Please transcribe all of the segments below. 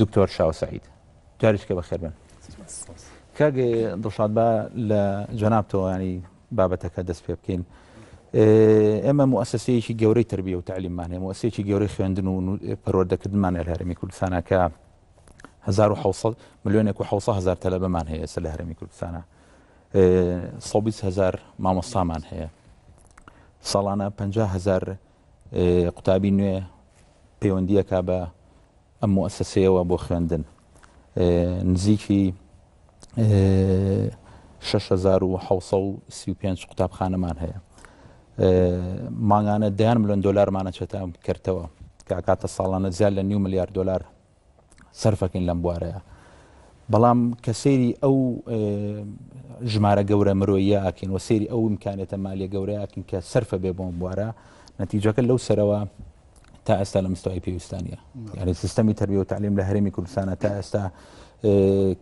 دکتۆر شاو سەعید جاریشکە بەخێر بن. کاک دڵشاد با لە جەنابتەوە ینی بابەتەکە دەست پێ بکەین ئێمە موسسەیەکی گەورەی تربیە و تعلیممان هەیە موسسەیەکی گەورەی خوێندن و پەروەردەکردمان لە هەرمی کوردستانەکە 1970 ملیۆنێک و 1970 تەلەبەمان هەیە سە لە هەرمی کوردستانە 1970هزار مامۆستامان هەیە ساڵانە 500هزار قوتابی نوێ پەیوەندیەکە بە ئەم موئەسەسەیەوە بۆ خوێندن نزیکی شەش هەزار و حەوسە و سی و پێنج قوتابخانەمان هەیە مانگانە دەیان ملیۆن دلارمانە چێتە کردەوە کە کاتە ساڵانە زیاد لە نیو ملیار دلار سەرفەکەین لەم بوارەیە بەڵام کە سێری ئەو ژمارە گەورە مرۆیە ئاکەین و سێری ئەو امکانێتە مالیە گەورەیەکن کە سەرفە بێ بۆم بوارە نەتیجەکە لەو سەرەوە تا ئێستا لە مستەوای پێویستان نیە یعنی سیستەمی تربیە و تعلیم لە هەرێمی کوردستانە تا ئێستا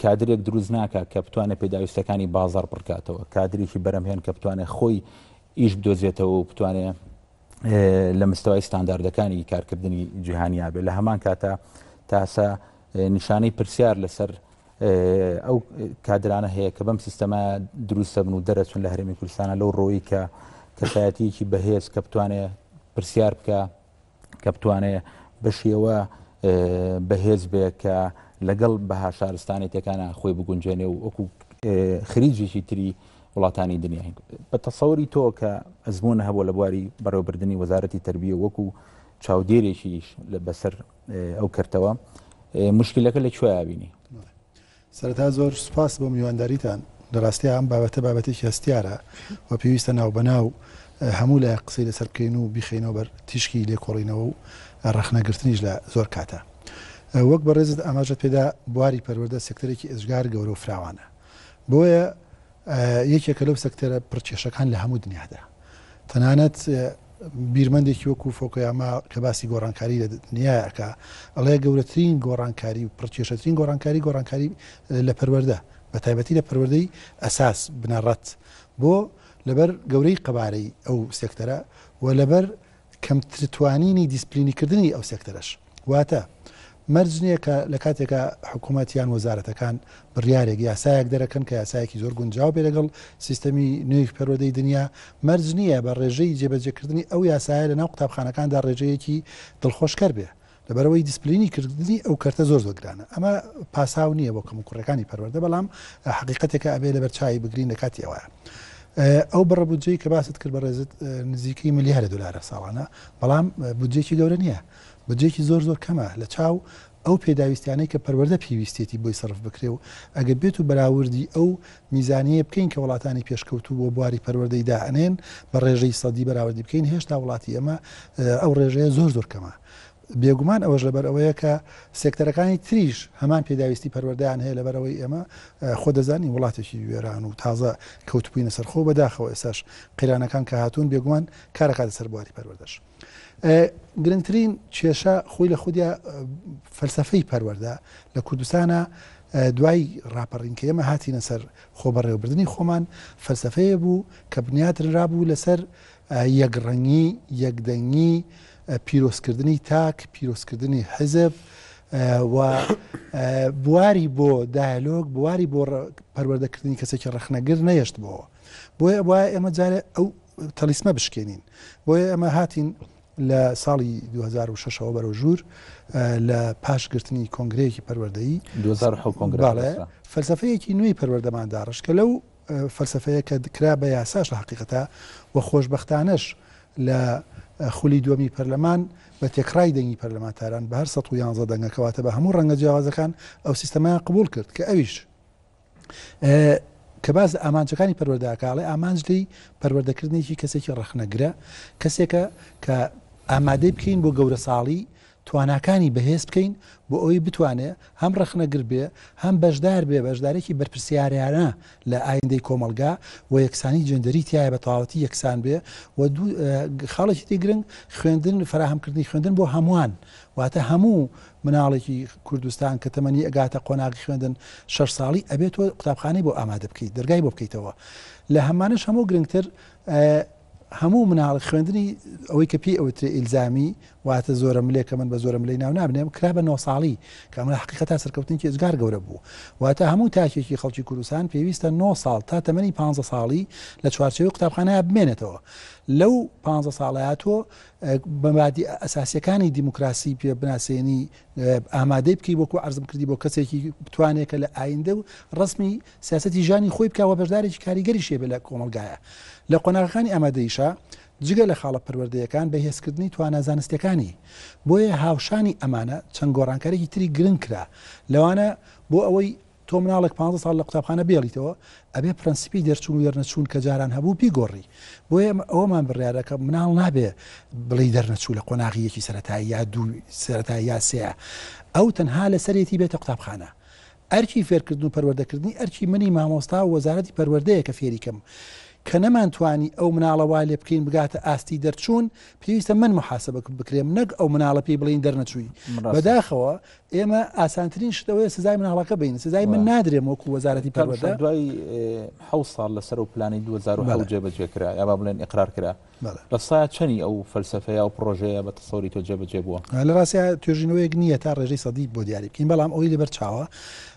کادرێک دروست ناکە کە بتوانێت پێداویستەکانی بازار پڕکاتەوە کادریکی بەرەمهێن کە بتوانێت خۆی ئیش بدۆزێتەوە و بتوانێت لە مستەوای ستانداردەکانی کارکردنی جیهانیابێت لە هەمان کاتە تاسە نیشانەی پرسیار لەسەر ئەو کادرانە هەیە کە بەم سیستەما دروستە بن و دەرەچون لە هەرمی کوردستانە لەو ڕۆیی کە کەسایەتیکی بەهێز کە بتوانێت پرسیار بکە کە بتوانێت بەشیەوە بەهێز بێ کە لەگەڵ بەها شارستانی تێکانە خۆی بگونجێنێ و وەکو خریجێکی تری وڵاتانی دنیای بە تەسەوری تۆ کە ئەزمونە هەبوو لە بواری بەڕێوبردننی وەزارەتی تربیە وەکو چاودێرێکیش لە بەسەر ئەو کەرتەوە مشکلەکە لە کوێیا بینی؟ سەرەتا زۆر سوپاس بۆ میوانداریتان لە ڕاستیا ئەم بابەتە بابەتێکی هەستیارە و پێویستە ناو بەناو هەموو لای قسەی لەسەر بکەین و بیخینەوە بەر تیشکی لێکۆڵینەوە و ڕەخنەگرتنیش لە زۆر کاتە وەک بە ڕێزت ئاماژە پێدا بواری پەروەردە سکتەرێکی ئێجگار گەورە و فراوانە بۆیە یەکێکە لەو سەکتەرە پڕ کێشەکان لە هەموو دنیادا. تەنانەت بیرمەندێکی وەکو فۆکۆیاما کە باسی گۆڕانکاری لە دنیای ئەکا ئەڵێ گەورەترین گۆڕانکاری و پڕکێشەترین گۆڕانکاری گۆڕانکاری لە پەروەردە بە تایبەتی لە پەروەردەی ئەساس بنەڕەت بۆ لەبەر گەورەی قەبارەی ئەو سێکتەرە و لەبەر کەمترتوانینی دیسپلینیکردنی ئەو سێکتەرەش. واتە مەرج نییە کە لە کاتێکا حکومەت یان وەزارەتەکان بڕیارێک، یاسایەک دەرەکەن کە یاسایەکی زۆر گونجاو بێ لەگەڵ سیستەمی نوێی پەروەدەی دنیا، مەرج نییە بە ڕێژەی جێبەجێکردنی ئەو یاسایە لەناو قوتابخانەکاندا ڕێژەیەکی دڵخۆشکەر بێ. لەبەرئەوەی دیسپلینی کردنی ئەو کەرتە زۆر زۆر گرانە ئەمە پاساو نییە بۆ کەمو کوڕەکانی پەروەردە بەڵام حقیقەتێکە ئەبێ لەبەر چای بگرین لە کاتی ئەوە ئەو بڕە بودجەی کە باست کرد بە ڕێزت نزیکەی ملیارە دلارە ساڵانە بەڵام بودجێکی گەورە نییە بودجێکی زۆر زۆر کەمە لە چاو ئەو پێداویستیانەی کە پەروەەردە پێویستێتی بۆی سرف بکرێ و ئەگە بێت و بەراوردی ئەو میزانیە بکەین کە وڵاتانی پێشکەوتو بۆ بواری پەروەەردەی دائنێن بە ڕێژەی سەدی بەراوردی بکەین هێشتا وڵاتی ئەمە ئەو ڕێژەیە زۆر زۆر کەمە بێگومان ئەوەش لەبەر ئەوەیە کە سێکتەرەکانی تریش هەمان پێداویستی پەروەردەیان هەیە لەبەر ئەوەی ئێمە خۆ دەزانین وڵاتێکی وێران و تازە کەوتبووینە سەر خۆ بەداخەوە ئێساش قەیرانەکان کە هاتوون بێگومان کارەکاتە سەر بواری پەروەردەش گرنگترین کێشە خۆی لە خودیا فەلسفەی پەروەەردە لە کوردستانە دوای راپەڕین کە ئێمە هاتیینە سەر خۆ بەڕێوەبردننی خۆمان فەلسفەیە بوو کە بنیاتررا بوو لەسەر یەکڕەنگی یەکدەنگی پیرۆزکردنی تاک، پیرۆزکردنی حیزب و بواری بۆ دایەلۆگ، بواری بۆ پەروەردەکردنی کەسێکی ڕەخنەگر نەهێشتبۆوە. بۆیە وایە ئێمە جارێ ئەو تەلیسمە بشکێنین. بۆیە ئێمە هاتین لە ساڵی 2006 ەوە بەرەو ژوور لە پاش گرتنی کۆنگرەیەکی پەروەردەیی فەلسەفەیەکی نوێی پەروەردەمان داڕشت کە لەو فەلسەفەیە کە کرا بە یاساش لە هەقیقەتا و خۆشبەختانەش لە خولی دووەمی پەرلەمان بە تێکڕای دەنگی پەرلەمانتاران بە هەر سەد و یانزە دەنگە کەواتە بە هەموو ڕەنگە جیاوازەکان ئەو سیستەمەیان قبوڵ کرد کە ئەویش کە باز لە ئامانجەکانی پەروەردەکاڵێ ئامانج لی پەروەردەکردنێکی کەسێکی ڕخنەگرە کەسێکە کە ئامادەی بکەین بۆ گەورە ساڵی تواناکانی بەهێز بکەین بۆ ئەوەی بتوانێ هەم ڕەخنەگر بێ هەم بەشدار بێ بەشدارێکی بەرپرسیارانە لە ئایندەی کۆمەڵگا و یەکسانی جێندەری تیایە بە تەواوەتی یەکسان بێ و دوو خاڵێکی دی گرنگ خوێندن فەراهەمکردنی خوێندن بۆ هەمووان واتە هەموو مناڵێکی کوردستان کە تەمەنی ئەگاتە قۆناغی خوێندن شەش ساڵی ئەبێت تۆ قوتابخانەی بۆ ئامادە بکەیت دەرگای بۆ بکەیتەوە لە هەمانەش هەموو گرنگتر هەموو مناڵێک خوێندنی ئەوەی کە پێی ئەوترێ ئیلزامی، واتە زۆرەملێ کە من بە زۆرەملێی ناو نابنێم، کرا بە نۆ ساڵی، کە ئەمە لە حەقیقەتا سەرکەوتنێکی ئێجگار گەورە بوو. واتە هەموو تاکێکی خەڵکی کوردستان پێویستە نۆ ساڵ تا تەمەنی پانزە ساڵی لە چوارچێوەی قوتابخانەیا بمێنێتەوە. لەو پانزە ساڵەیا تۆ مەبادیئە ئەساسییەکانی دیموکراسی پێ بناسێنی، ئامادەی بکەی وەکو عرزم کردی بۆ کەسێکی بتوانێت کە لە ئایندە و ڕسمی سیاستی ژانی خۆی بکەوە بەشدارێکی کاریگەری شێ بە لە کۆمەلگایە لە قۆناغەکانی ئامادەیشە جگە لە خاڵە پەروەردەیەکان بە هێزکردنی توانا زانستەکانی بۆیە هاوشانی ئەمانە چەند گۆڕانکارێکی تری گرنگ کرا لەوانە بۆ ئەوەی تۆ مناڵێک پانزە ساڵ لە قوتابخانە بێڵیتەوە ئەبێ پرەنسیپی دەرچوون و دەرنەچوون کە جاران هەبوو بیگۆڕی بۆیە ئێمە ئەوەمان بڕیارە کە مناڵ نابێ بڵی دەرنەچوو لە قۆناغی یەکی سەتایی یا دوو سەتای یا سەیە ئەو تەنها لەسەرێتی بێتە قوتابخانە ئەرکی فێرکردن و پەروەردەکردنی ئەرکی منی مامۆستا و وەزارەتی پەروەردەیە کە فێریکەم کە نەمانتوانی ئەو مناڵەوا لێ بکەین بگاتە ئاستی دەرچوون پێویستە من محاسبە بکرێم نەک ئەو مناڵە پێی بڵین دەرنەچووی بەداخەوە ئێمە ئاسانترین شت ئەوەیە سزای مناڵەکە بین سزای من نادرێم وەکو وەزارەتی پەروەردە تەمشا دوای حەوت ساڵ لەسەر و پلانی 2010 جێبەجێ کرا یا با بڵێن ئقرار کرا بەڵێ لە سایە چەنی ئەو فەلسەفەیە و پڕۆژەیە بە تەسەوری تۆ جێبەجێ بووە آه، لە ڕاستیا توێژینەوەیەک نییە تا ڕێژەی سەدی بۆ دیاری بکەین بەڵام ئەوی لەبەر چاوە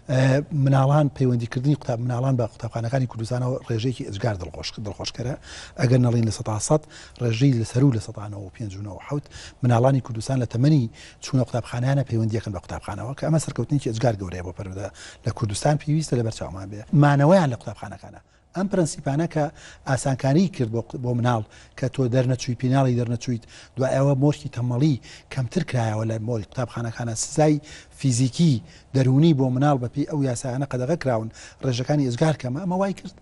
آه، مناڵان پەیوەندیکردنی قوتاب مناڵان بە قوتابخانەکانی کوردستانەوە ڕێژەیەکی ئەجگار دڵخۆش دڵخۆشکەرە ئەگەر نەڵین لە سەتا سەد ڕێژەی لەسەر و لە سەتانەوە پێنج و نەوە حەوت مناڵانی کوردستان لە تەمەنی چونە قوتابخانانە پەیوەندیەکەن بە قوتابخانەوە کە ئەمە سەرکەوتنێکی ئێجگار گەورەیە بۆ پەروەردە لە کوردستان پێویستە لە بەرچاومان بێ مانەوەیان لە قوتابخانەکانە ئەم پرەنسیپانە کە ئاسانکاری کرد بۆ بۆ مناڵ کە تۆ دەرنەچووی پیناڵی دەرنەچوویت دوایەوە مۆرکی تەمەڵی کەمتر کرایەوە لە مۆری قوتابخانەکانە سزای فیزیکی دەرونی بۆ مناڵ بەپی ئەو یاسایانە قەدەغە کراون ڕێژەکانی ئێزگار کەمە ئەمە وای کرد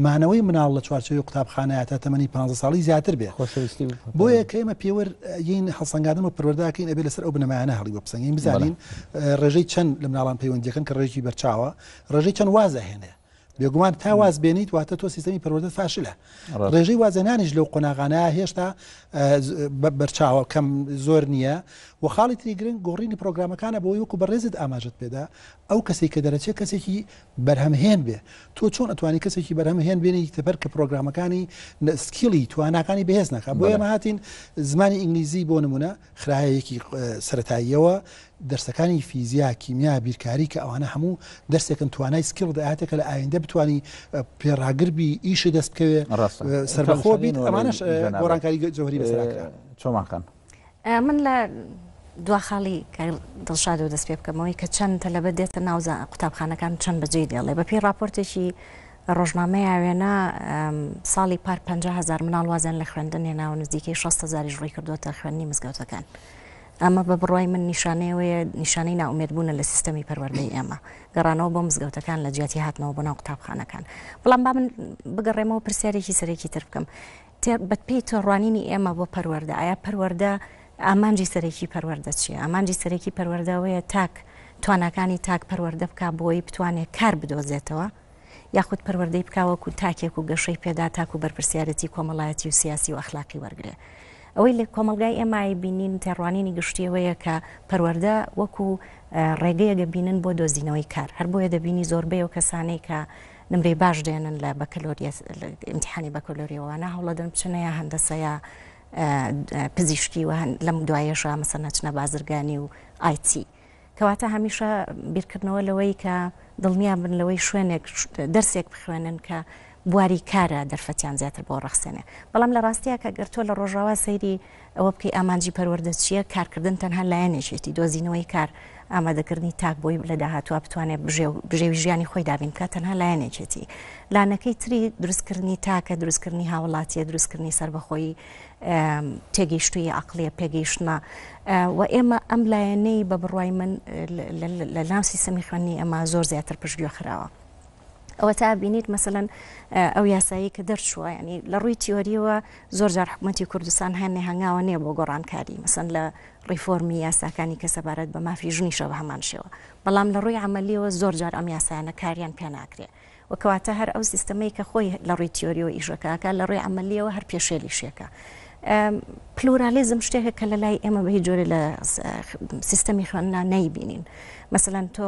مانەوەی مناڵ لە چوارچەوەی قوتابخانەیە تا تەمەنی پ ساڵی زیاتر بێ خۆشەویستی بۆیە کە ئمە پێوەر یین هەڵسەنگادن و پروەرداکەین ئەبێ لەسەر ئەو بنەمایانە هەڵی بۆ بسەنگین بزانین ڕێژەی چەند لە مناڵان پەیوەندیەکەن کە ڕێژی بەرچاوە ڕێژەی چەند وازە هێنێ بێگومان تا واز بێنیت واتە تۆ سیستمی پەروەدە فاشلە ڕێژەی وازەنانیش لەو قۆناغانە هێشتا بەرچاوە کەم زۆر نییە و خاڵی تری گرنگ گۆڕینی پرۆگرامەکانە بۆی وەکو بەڕێزت ئاماژت پێدا ئەو کەسی کە دەرەچێت کەسێکی بەرهەم هێن بێ تۆ چۆن ئەتوانی کەسێکی بەرهەم هێن بێنی تەپەر کە پرۆگرامەکانی سکیڵی تواناکانی بەهێز نەکە بۆ ئێمە هاتین زمانی ئینگلیزی بۆ نمونە خراەیەکی سەتاییەوە دەرسەکانی فیزیا کیمیا بیرکاری کە ئەوانە هەموو دەرسێکن توانای سکیڵ دەهاتێکە لە ئایندە بتانی پێڕاگربی ئیشی دەست بکەوێ سەربەخۆ بیت ئەمانش گۆڕانکاری جوهری بەسەراکە چۆماکەن من لە دوا خاڵی کاک دڵشادەوە دەست پێ بکەمەوەی کە چەند تەلەبە دێتە ناو زا- قوتابخانەکان چەند بەجێی دێڵێ بە پێی ڕاپۆرتێکی ڕۆژنامەی ئاوێنە ئەم، ساڵی پار 50 هزار مناڵ وازیان لە خوێندن هێناوە نزیکەی 60 هزاریش ڕووی کردووەتە خوێندنی مزگەوتەکان ئەمە بە بڕوای من نیشانەیەوەیە نیشانەی نائومێدبوونە لە سیستەمی پەروەردەی ئێمە گەڕانەوە بۆ مزگەوتەکان لە جیاتی هاتنەوە بۆ ناو قوتابخانەکان بەڵام با من بگەڕێمەوە پرسیارێکی سەرەکی تر بکەم بە پێی تێڕوانینی ئێمە بۆ پەروەردە ئایا پەروەردە ئامانجی سەرەکی پەروەردە چیە؟ ئامانجی سەرەکی پەروەردەوەیە تاک تواناکانی تاک پەروەردە بک بۆی بتوانێت کار بدۆزێتەوە یاخود پەروەردەی بکوەکو تاکێک و گەشەی پێدا تاکو بەرپسیارەتی کۆمەڵایەتی و سیاسی و ئەخلاقی وەرگێ ئەوەی لە کۆمەلگای ئێمای بینین تێڕوانینی گشتیەوەیە کە پەروەەردە وەکو ڕێگەیەگە بینن بۆ دۆزینەوەی کار هەر بۆیە دەبینی زۆربەی و کەسانەی کە نمرەی باش دێنن لە بەکەلۆریە ئیمتحانی بەکەلۆریەوەوانە هەوڵەدن بچنە یا هەندەسەیە پزیشکی و لەم دوایەشە مەسە نەچنە بازرگانی و ئایتی کەواتە هەمیشە بیرکردنەوە لەوەی کە دڵنیا بن لەوەی شوێنێک دەرسێک بخوێنن کە بواری کارە دەرفەتیان زیاتر بۆ ڕخسێنێ بەڵام لە ڕاستیە کە گەرتۆ لە ڕۆژاوا سەیری ئەوە بکەی ئامانجی پەروەردە چییە، کارکردن تەنها لایەنێکیەتی، دۆزینەوەی کار، ئامادەکردنی تاک بۆی لە داهاتووا بتوانێت بژێوی ژیانی خۆی دابین بکات تەنها لایەنێکێتی، لانەکەی تری دروستکردنی تاکە، دروستکردنی هاوڵاتیە، دروستکردنی سەربەخۆی تێگەیشتوی عقلیە پێگەیشتمە و ئێمە ئەم لایەنەی بە بڕای من لە ناو سیستەمی خوێنی ئەمە زۆر زیاتر پشتگوێ خراوە. ئەوەتا بینیت مەسەلەن ئەو یاسایی کە دەرچووە ینی لە ڕووی تیۆریەوە زۆر جار حکوومەتتی کوردستان هەنێ هەنگاوە نییە بۆ گۆڕانکاری مەسەن لە ڕیفۆرمی یاساکانی کە سەبارەت بە مافی ژنیشە بە هەمان شێوە بەڵام لە ڕووی عملیەوە زۆر جار ئەم یاسایانە کاریان پێ ناکرێ وکەواتە هەر ئەو سیستەمەی کە خۆی لە ڕووی تیۆریەوە ئیشەکەکە لە ڕووی عملیەوە هەر پێشێلی شێکە. پلورالیزم شتێکە کە لە لای ئێمە بەهی جۆرە لە سیستەمی خوێننا نەیبینین. مثلەن تۆ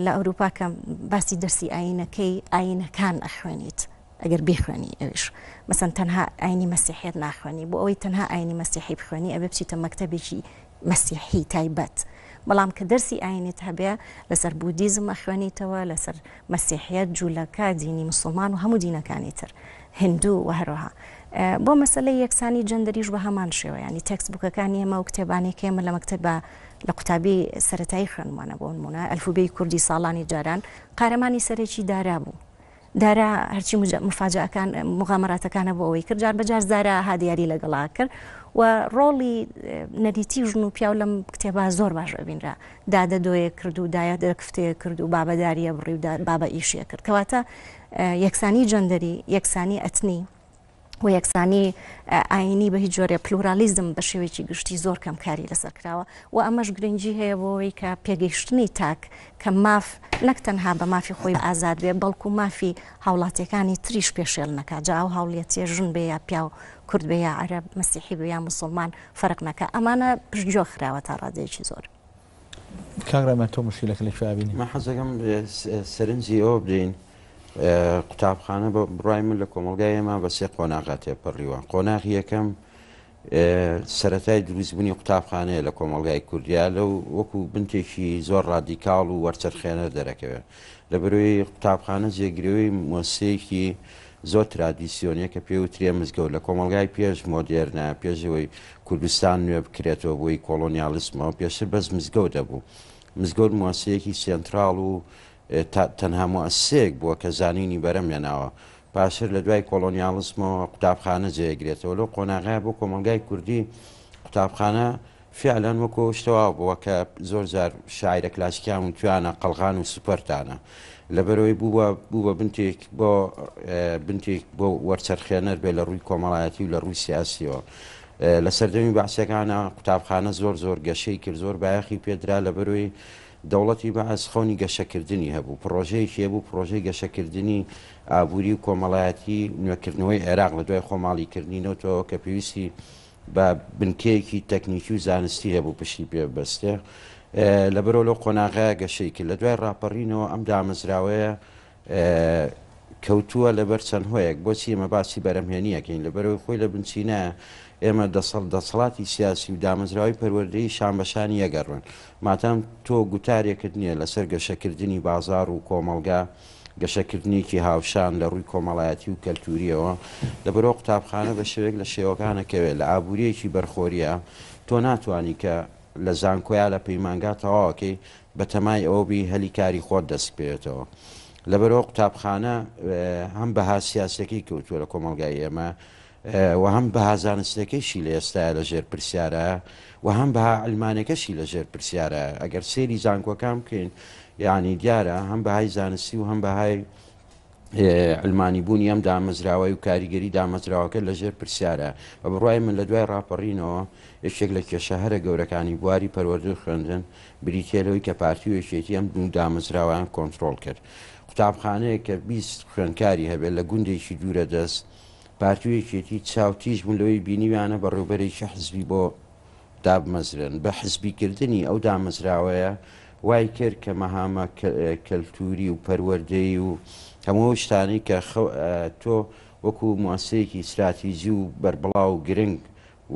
لە ئەوروپا کە باسی دەرسی ئاینەکەی ئاینەکان ئەخوێنیت ئەگەر بیخوێنی ئەویش مەسەن تەنها ئاینی مەسیحێت ناخوێنی بۆ ئەوەی تەنها ئاینی مەسیحی بخوێنی ئەبێ بچیتە مەکتتەبێکی مەسیحی تایبەت بەڵام کە دەرسی ئاینێت هەبێ لەسەر بودیزم ئەخوێنیتەوە لەسەر مەسیحیت جوولەکە دینی مسلمان و هەموو دینەکانی تر هندوو و هەروەها بۆ مەسلەی یەکسانی جەندەریش بە هەمان شێوەیانی تەکس بووکەکانی ئێمە و کتێبانێکێمە لە مەکتب بە لە قوتابی سەرەتایی خوێندمانە بۆ نموونە ئەلفوبێی کوردی ساڵانی جاران قارەمانی سەرەکی دارا بوو. دارا هەرچی مفاجەکان مغامراتەکانە بۆ ئەوەی کرد جار بەجار دارا ها دیاری لەگەڵا کرد و ڕۆڵی نەریتی ژن و پیاو لەم کتێبا زۆر باش ئەبینرا دادە دۆیە کرد و دایە دەکفتەیە کرد و بابەداریە بڕی و بابە ئیشیە کرد کەواتە یەکسانی جەندەری یەکسانی ئەتنی و یەکسانی ئاینی بە هیچ جۆرێ پلورالیزم بە شێوەیەکی گشتی زۆر کەم کاری لەسەر کراوە و ئەمەش گرنگی هەیە بۆەوەی کە پێگەیشتنی تاک کە ماف نەک تەنها بە مافی خۆی ئازاد بێ بەڵکو مافی هاوڵاتیەکانی تریش پێشێل نەکە جا ئەو هاوڵەتیە ژن بێ یا پیاو کورد بێ یا عەرب مەسیحی بێ یا مسلمان فەرق نەکە ئەمانە پشتگیۆ خراوە تا ڕادێکی زۆر. کاک ڕێمان تۆ مشکلەکە لە کوێ بینی؟ من حەزەکەم سەرنجی ئەوە بدەین قوتابخانە بە بڕای من لە کۆمەلگای ئێمە بە سێ قۆناغا تێپەڕیوە قۆناغی یەکەم سەتای دروستبوونی قوتابخانەیە لە کۆمەلگای کوردیا لەو وەکو بنتێکی زۆر ڕادیکاڵ و وەرچەرخێنەر دەرەکەوێت لە بەروی قوتابخانە جێگرەوەی مۆسیەکی زۆر ترادیسیۆنیە کە پێی وترێ مزگەوت لە کۆمەڵگای پێش مۆدێرنە پێش ئەوەی کوردستان نوێ بکرێتەوە بۆی کۆڵۆنیالیسمەوە پێشتر بەس مزگەوت دەبوو مزگەوت موەسەیەکی سێنتراڵ و تەنها موەسەیەک بووە کە زانینی بەرە مێناوە پاشتر لە دوای کۆڵۆنیالیسمەوە قوتابخانە جێگرێتەوە لەو قۆناغای بۆ کۆمەلگای کوردی قوتابخانە فیعلەن وەکو ئەو شتە وا بووە کە زۆر جار شاعیرە کلاسیکیان وتویانە قەڵغان و سوپەرتانە. لەبەرئەوەی بووە بوو بە بنتێک بۆ بنتێک بۆ وەرچەرخێنەر بێ لە ڕووی کۆمەڵایەتی و لە ڕووی سیاسییەوە. لە سەردەمی بەعسییەکانا قوتابخانە زۆر زۆر گەشەی کرد، زۆر بایەخی پێ درا لەبەرئەوەی دەوڵەتی بەعس خەونی گەشەکردنی هەبوو، پڕۆژەیەکی هەبوو پڕۆژەی گەشەکردنی ئابووری و کۆمەڵایەتی نوێکردنەوەی عێراق لە دوای خۆماڵیکردنی نەوتەوە کە پێویستی با بنکەیەکی تەکنیکی و زانستی هەبوو پشتی پێ ببەستێ، لەبەرئەوە لەو قۆناغەیە گەشەی کرد. لە دوای ڕاپەڕینەوە ئەم دامەزراوەیە کەوتووە لەبەر چەند هۆیەک. بۆچی ئێمە باسی بەرەمهێنی ئەکەین؟ لەبەرئەوەی خۆی لە بنچینەیە ئێمە دەسەڵ دەسەڵاتی سیاسی و دامەزراوەی پەروەردەیی شان بە شانی یەکە ڕوون. مادام تۆ گوتارێکت نییە لەسەر گەشەکردنی بازاڕ و کۆمەڵگا، گەشەکردنێکی هاوشان لە ڕووی کۆمەڵایەتی و کەلتوورییەوە، لەبەرئەوە قوتابخانە بە شێوەیەک لە شێوەکانە کەوێ لە ئابوورییەکی بەرخۆرییە، تۆ ناتوانی کە لە زانکۆ یا لە پەیمانگا تەواوەکەی بە تەمای ئەوە بی هەلی کاری خۆت دەست بکەوێتەوە. لەبەرئەوە قوتابخانە هەم بەها سیاسییەکەی کەوتووە لە کۆمەڵگای ئێمە، و هەم بەها زانستێکەیشی لە ئێستایا لە ژێر پرسیارە و هەم بەها علمانێکەشی لە ژێر پرسیارە ئەگەر سێری زانکۆکان بکەین یعنی دیارە هەم بەهای زانستی و هەم بەهای علمانی بوونی ئەم دامەزراوەی و کاریگەری دامەزراوەکە لە ژێر پرسیارە بە بڕای من لە دوای ڕاپەڕینەوە یەکێک لە کێشە هەرە گەورەکانی بواری پەروەردو خوێندن بریتێلەوەی کە پارتی و یەکێتی ئەم دوو دامەزراوان کۆنتترۆل کرد قوتابخانەیە کە 20 خوێندکاری هەبێت لە گوندێکی دوورە دەست پارتی و یەکێتی چاو تیژ بوون لەوەی بینیویانە بەڕێوبەرێکی حزبی بۆ دابمەزرێن، بە حزبی کردنی ئەو دامەزراوەیە وای کرد کە مەهامە کەلتوری و پەروەردەیی و هەموو ئەو شتانەی کە خە تۆ وەکو موئەسسەیەکی ستراتیجی و بەربڵاو و گرنگ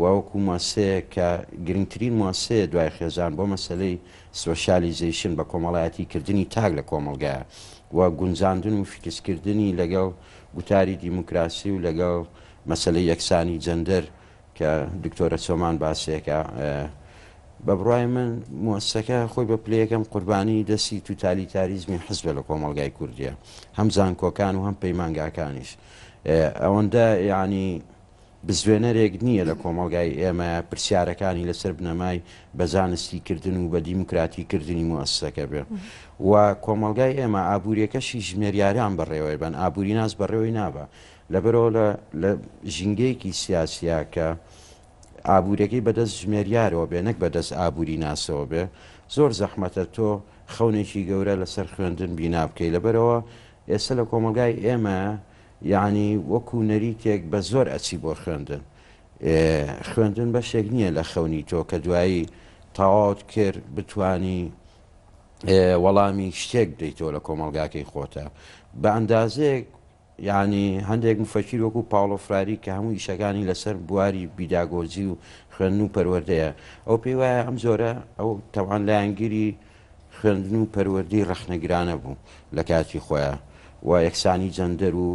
و وەکو موەسسەیەک کە گرنگترین موەسسەیە دوای خێزان بۆ مەسەلەی سۆشیالیزەیشن، بەکۆمەڵایەتی کردنی تاک لە کۆمەڵگایە و گونجاندن و فیکس کردنی لەگەڵ گوتاری دیموکراسی و لەگەڵ مەسەلەی یەکسانی جەندەر کە دکتۆرە چۆمان باسیەکا بە بڕوای من موەسسەکە خۆی بە پلە یەکەم قوربانی دەستی توتالیتاریزمی حزبە لە کۆمەڵگای کوردیە هەم زانکۆکان و هەم پەیمانگاکانیش ئەوەندە یعنی بزوێنەرێک نییە لە کۆمەڵگای ئێمە پرسیارەکانی لەسەر بنەمای بە زانستی کردن و بە دیموکراتی کردنی موئەسسەکە بێ و کۆمەڵگای ئێمە ئابووریەکەشی ژمێریاران بەڕێوەی بەن ئابووریناس بەڕێوەی نابا لەبەرەوە لە لە ژینگەیەکی سیاسیا کە ئابوورەکەی بەدەست ژمێریارەوە بێ نەک بەدەست ئابووری ناسەوە بێ زۆر زەحمەتە تۆ خەونێکی گەورە لەسەر خوێندن بینابکەی لەبەرەوە ئێستا لە کۆمەڵگای ئێمە یەعنی وەکو نەریتێک بە زۆر ئەچی بۆ خوێندن ئێ خوێندن بەشێک نییە لە خەونی تۆ کە دوایی تەواوت کرد بتانی وەڵامی شتێک بدەیتەوە لە کۆمەلگاکەی خۆتە بە ئەندازێک یعنی هەندێک مفەکیر وەکو پاڵۆفراری کە هەموو ئیشەکانی لەسەر بواری بیداگۆجی و خوێن و پەروەردەیە ئەو پێی وایە ئەم جۆرە ئەو تەوان لایەنگیری خوێندن و پەروەردەی ڕەخنەگرانە بوو لە کاتی خۆیا و یەکسانی جەندەر و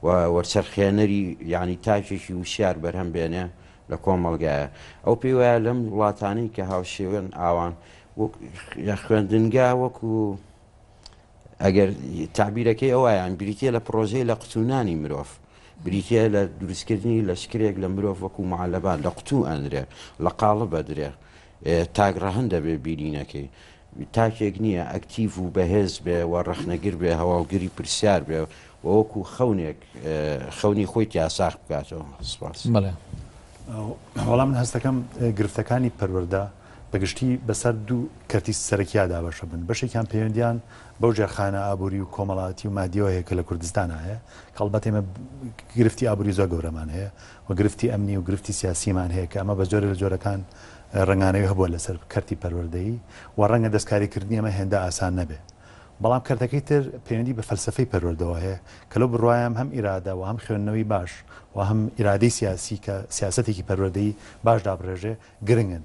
و وەرچەرخێنەری یانی تاکێکی وشیار بەرهەم بێنێ لە کۆمەڵگایە. ئەو پێی وایە لەم وڵاتانەی کە هاوشێوەن ئاوان وەک یە خوێندنگا وەکو ئەگەر تەعبیرەکەی ئەو وایان بریتیە لە پڕۆژەی لە قتونانی مرۆڤ. بریتیە لە دروستکردنی لەشکرێک لە مرۆڤ وەکو معەلەبان لە قتوو ئەنرێ لە قاڵب ئەدرێ تاک ڕەهەند دەبێ بینینەکەی تاکێک نییە ئەکتیڤ و بەهێز بێ و ڕەخنەگر بێ، هەواڵگری پرسیار بێ و وەکو خەونێک خەونی خۆی تیا ساغ بکاتەوە. سپاس. بەڵێ. وەڵا من هەست دەکەم گرفتەکانی پەروەردە بە گشتی بەسەر دوو کەرتی سەرەکیا دابەشە بن بەشێکیان پەیوەندیان بەو ژێرخانە ئابووری و کۆمەڵاتی و مادیەوە هەیە کە لە کوردستان هەیە کەڵبەت ئێمە گرفتی ئابووری زۆر گەورەمان هەیە و گرفتی ئەمنی و گرفتی سیاسیمان هەیە کە ئەمە بە جۆرێ لە جۆرەکان ڕەنگانەوی هەبووە لەسەر کەرتی پەروەردەیی و ڕەنگە دەستکاری کردنی ئەمە هێندە ئاسان نەبێ بەڵام کەرتەکەی تر پەیوەندی بە فەلسەفەی پەروەردەوە هەیە کە لەو بڕوایەم هەم ئیرادە و هەم خوێندنەوەی باش و هەم ئیرادەی سیاسی کە سیاسەتێکی پەروەردەیی باش دابڕێژێ گرنگن.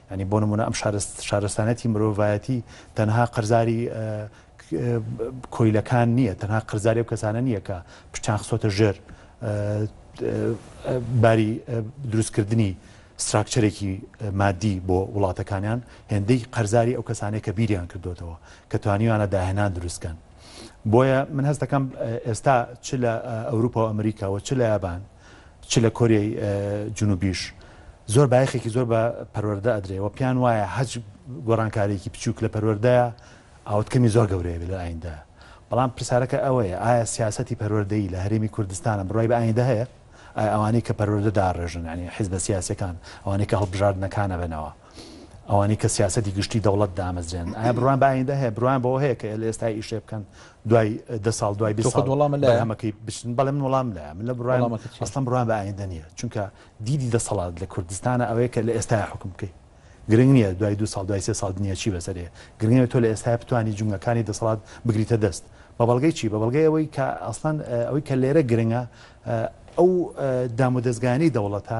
یانی بۆ نموونە ئەم شارستانیەتی مرۆڤایەتی تەنها قەرزاری کۆیلەکان نییە، تەنها قەرزاری ئەو کەسانە نییە کە پشتیان خستۆتە ژێر باری دروستکردنی ستراکچەرێکی مادی بۆ وڵاتەکانیان، هێندەی قەرزاری ئەو کەسانەیە کە بیریان کردوتەوە کە توانیویانە داهێنان دروستکەن. بۆیە من هەست دەکەم ئێستا چ لە ئەوروپا و ئەمریکا و چ لە یابان، چ لە کۆریای جنوبیش زۆر بایەخێکی زۆر بە پەروەردە ئەدرێ و پێیان وایە هەچ گۆڕانکارێکی بچووک لە پەروەردەیە ئاوتکەمی زۆر گەورەیە بێ لە ئایندە بەڵام پرسیارەکە ئەوەیە ئایا سیاسەتی پەروەردەی لە هەرێمی کوردستانە بڕای بە ئایندە هەیە ئەوانەی کە پەروەردە داڕێژن ینی حیزبە سیاسەکان ئەوانەی کە هەڵبژاردنەکانە بنەوە ئەوانەی کە سیاسەتی گشتی دەوڵەت دامەزرێنن ئایا بڕوان بە ئایندە هەیە بڕوان بەوە هەیە کە لە ئێستا ئیشێ بکەن دوای دە ساڵ دوای بێ ساڵ وڵامە لە ئەمەکەی بچن بەڵێ من وڵام لە من لە بڕوان ئەسڵم بڕوان بە ئایندە نییە چونکە دیدی دەسەڵات لە کوردستانە ئەوەیە کە لە ئێستا حکم بکەیت گرنگ نییە دوای دو ساڵ دوای سێ ساڵ دنیا چی بەسەرێ گرنگە تۆ لە ئێستا بتانی جومگەکانی دەسەڵات بگریتە دەست بە بەڵگەی چی بە بەڵگەی ئەوەی کە ئەسڵەن ئەوەی کە لێرە گرنگە ئەو دامودەستگانی دەوڵەتە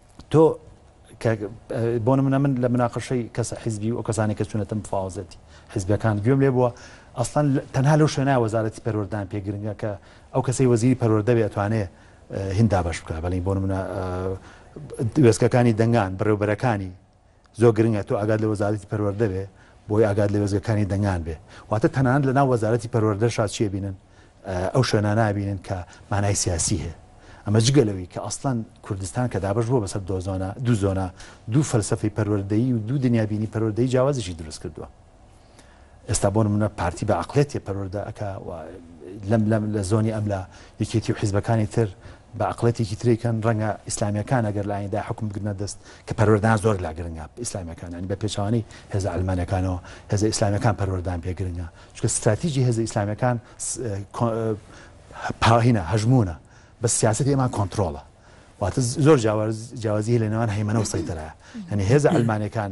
تۆ کە بۆ نمونە من لە مناقەشەی کەسە حیزبی و ئەو کەسانی کە چوونەتە مفاوەزەتی حیزبەکان گوێم لێ بووە ئەسڵەن تەنها لەو شوێنە وەزارەتی پەروەردان پێ گرنگە کە ئەو کەسەی وەزیری پەروەردە بێ ئەتوانێ هیندا بەش بکە بەڵین بۆ نمونە وێستگەکانی دەنگان بەڕێوبەرەکانی زۆر گرنگە تۆ ئاگات لە وەزارەتی پەروەردە بێ بۆی ئاگات لە وێزگەکانی دەنگان بێ واتە تەنانەت لە ناو وەزارەتی پەروەردە شا چیە بینن ئەو شوێنە نابینن کە مانای سیاسی هەیە ئەمە جگە لەوەی کە ئەسلان کوردستان کە دابش بووە بەسەر دۆزۆنا دوو زۆنا دوو فەلسفەی پەروەردەیی و دوو دنیابینی پەروەردەی جیاوازیشی دروست کردووە ئێستا بۆ نمونە پارتی بە عقلێتێ پەروەەردە ئەک لەم لەم لە زۆنی ئەم لە یەکێتی و حیزبەکانی تر بە عقلێتێکی تریکەن ڕەنگە ئیسلامیەکان ئەگەر لایەندا حکم بگرنە دەست کە پەروەردان زۆر لا گرنگە ئیسلامیەکانانی بە پێچوانی هێز ئەلمانەکانەوە هێز ئیسلامیەکان پەروەردان پێ گرنگە چکە استراتیژی هێز ئیسلامیەکان پاهینە هەژمونە بە سیاست ئێمان کۆنتترۆڵە واتە زۆر جیاوازی لە نێوان هەیمەەوە سەیتەرە هەنی هێز ئەلمانەکان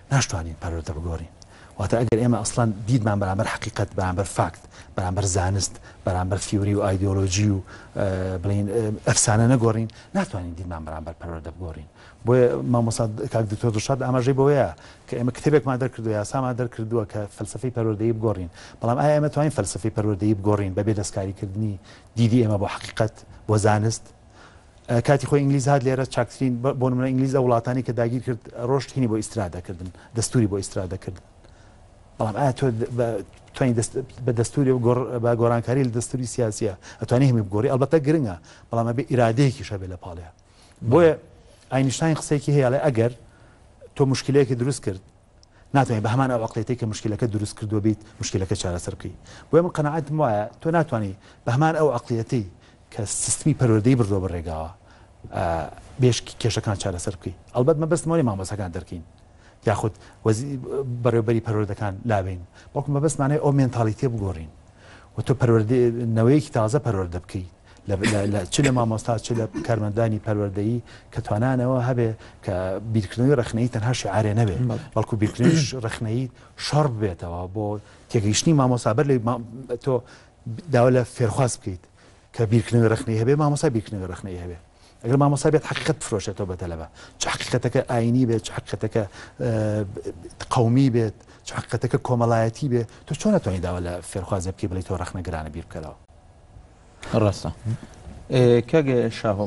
ناشتوانین پەروەردە بگۆڕین. واتە ئەگەر ئێمە ئەسڵەن دیدمان بەرامبەر حەقیقەت، بەرامبەر فاکت، بەرامبەر زانست، بەرامبەر فیوری و ئایدۆلۆژی و بڵێین ئەفسانە نەگۆڕین، ناتوانین دیدمان بەرامبەر پەروەردە بگۆڕین. بۆیە مامۆستا کاک دکتۆر دڵشاد ئاماژەی بەوەیە کە ئێمە کتێبێکمان دەرکردووە، یاسامان دەرکردووە کە فەلسەفەی پەروەردەیی بگۆڕین، بەڵام ئایا ئێمە توانین فەلسەفەی پەروەردەیی بگۆڕین بەبێ دەستکاریکردنی دیدی ئێمە بۆ حەقیقەت، بۆ زانست؟ کاتی خۆی ئینگلیز هات لێرە چاکترین بۆ نمونە ئینگلیز لە وڵاتانی کە داگیر کرد ڕۆشت هینی بۆ ئیسرا دەکردن دەستوری بۆ ئیسرا دەکردن بەڵام ئایا تۆ توانین بە دەستوری و بە گۆرانکاری لە دەستوری سیاسیە ئەتوانی هەمی بگۆری ئەلبەتە گرنگە بەڵام بێ ئیرادەیەکی شەبێ لە پاڵەیە بۆیە ئاینیشتین قسەیەکی هەیە لە ئەگەر تۆ مشکلەیەکی دروست کرد ناتوانین بە هەمان ئەوقلێتی کە مشکلەکە دروست کردو بیت مشکلەکە چارەسەرقی بۆ من قەنەعاتم وایە تۆ ناتوانانی بە هەمان ئەو عقلەتی کە سیستمی پەروەردەی بردوە بە رێگاوە بێشکی کێشەکان چارەسەر بکەی ئەلبەت مە بەستمەوە لێ مامۆسەکان دەرکەین یاخود بەڕێوبەری پەروەردەکان لاوین بەڵکو مە بەستمانەی ئەو مێنتالیتێ بگۆڕین و تۆ پەروەردەنەوەیەکی تازە پەروەردە بکەیت چ لە مامۆستا چ لە کارمەندانی پەروەردەیی کە توانانەوە هەبێ کە بیرکردنەوەی ڕخنەی تەنها شعارێ نەبێ بەڵکو بیرکردنیش ڕخنەی شەڕ بێتەوە بۆ تێگەیشتنی مامۆسابەر لە تۆ داوا لە فێرخواز بکەیت کە بیرکردنەوەی ڕەخنەیی هەبێت، مامۆستا بیرکردنەوەی ڕەخنەیی هەبێت. ئەگەر مامۆستا بێت حەقیقەت بفرۆشێتەوە بە تەلەبە، چ حەقیقەتەکە ئایینی بێت، چ حەقیقەتەکە قەومی بێت، چ حەقیقەتەکە کۆمەڵایەتی بێت، تۆ چۆن ئەتوانی داوا لە فێرخوازێ بکەی بڵێی تۆ ڕەخنەگرانە بیر بکەرەوە؟ ڕاستە. کاک شاهۆ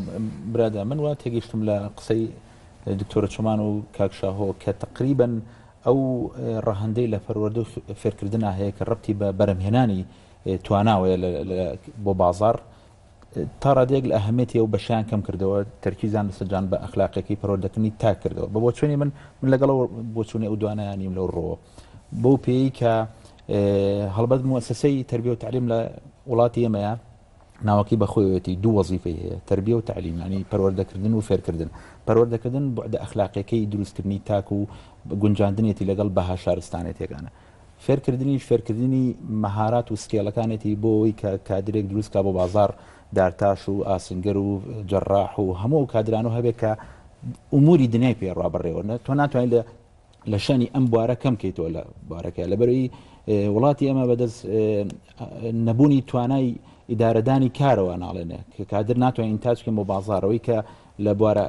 برادەر، من وا تێگەیشتم لە قسەی دکتۆرە چۆمان و کاک شاهۆ کە تەقریبەن ئەو ڕەهەندەی لە پەروەردە و فێرکردنا هەیە کە ڕەبتی بە بەرهەمهێنانی تواناوەیە بۆ بازاڕ، تا ڕادەیەک لە ئەهەمیەتی ئەو بەشەیان کەم کردەوە، تەرکیزیان لەسەر جان بە ئەخلاقیەکەی پەروەردەکردنی تاک کردەوە. بە بۆچوونی من، من لەگەڵ ئەو بۆچوونی ئەو دوانەیان نیم لەو ڕووەوە. بەو پێیەی کە هەڵبەت موەسەسەی تەربیە و تەعلیم لە وڵاتی ئێمەیە، ناوەکەی بە خۆیەتی دوو وەزیفەی هەیە، تەربیە و تەعلیم، یانی پەروەردەکردن و فێرکردن. پەروەردەکردن بوعدە ئەخلاقییەکەی دروستکردنی تاک و گونجاندنێتی لەگەڵ بەها شارستانێتییەکانە. فێرکردنیش فێرکردنی مەهارات و سکێڵەکانێتی بۆ ئەوەی کە کادرێک دروست کا بۆ بازاڕ، دارتاش و ئاسنگەر و جەراح و هەموو ئەو کادرانە هەبێت کە ئوموری دنیای پێ ڕابەڕێوە. تۆ ناتوانی لە. لە شانی ئەم بوارە کەم کەیتەوە لە بارەکە لە بەرەی وڵاتی ئەمە بەدەست نەبوونی توانای ئیدارەدانی کارەوە ناڵێنێ کە کادر ناتوانین تاچکەم بۆ بازارەوەی کە لە بوارە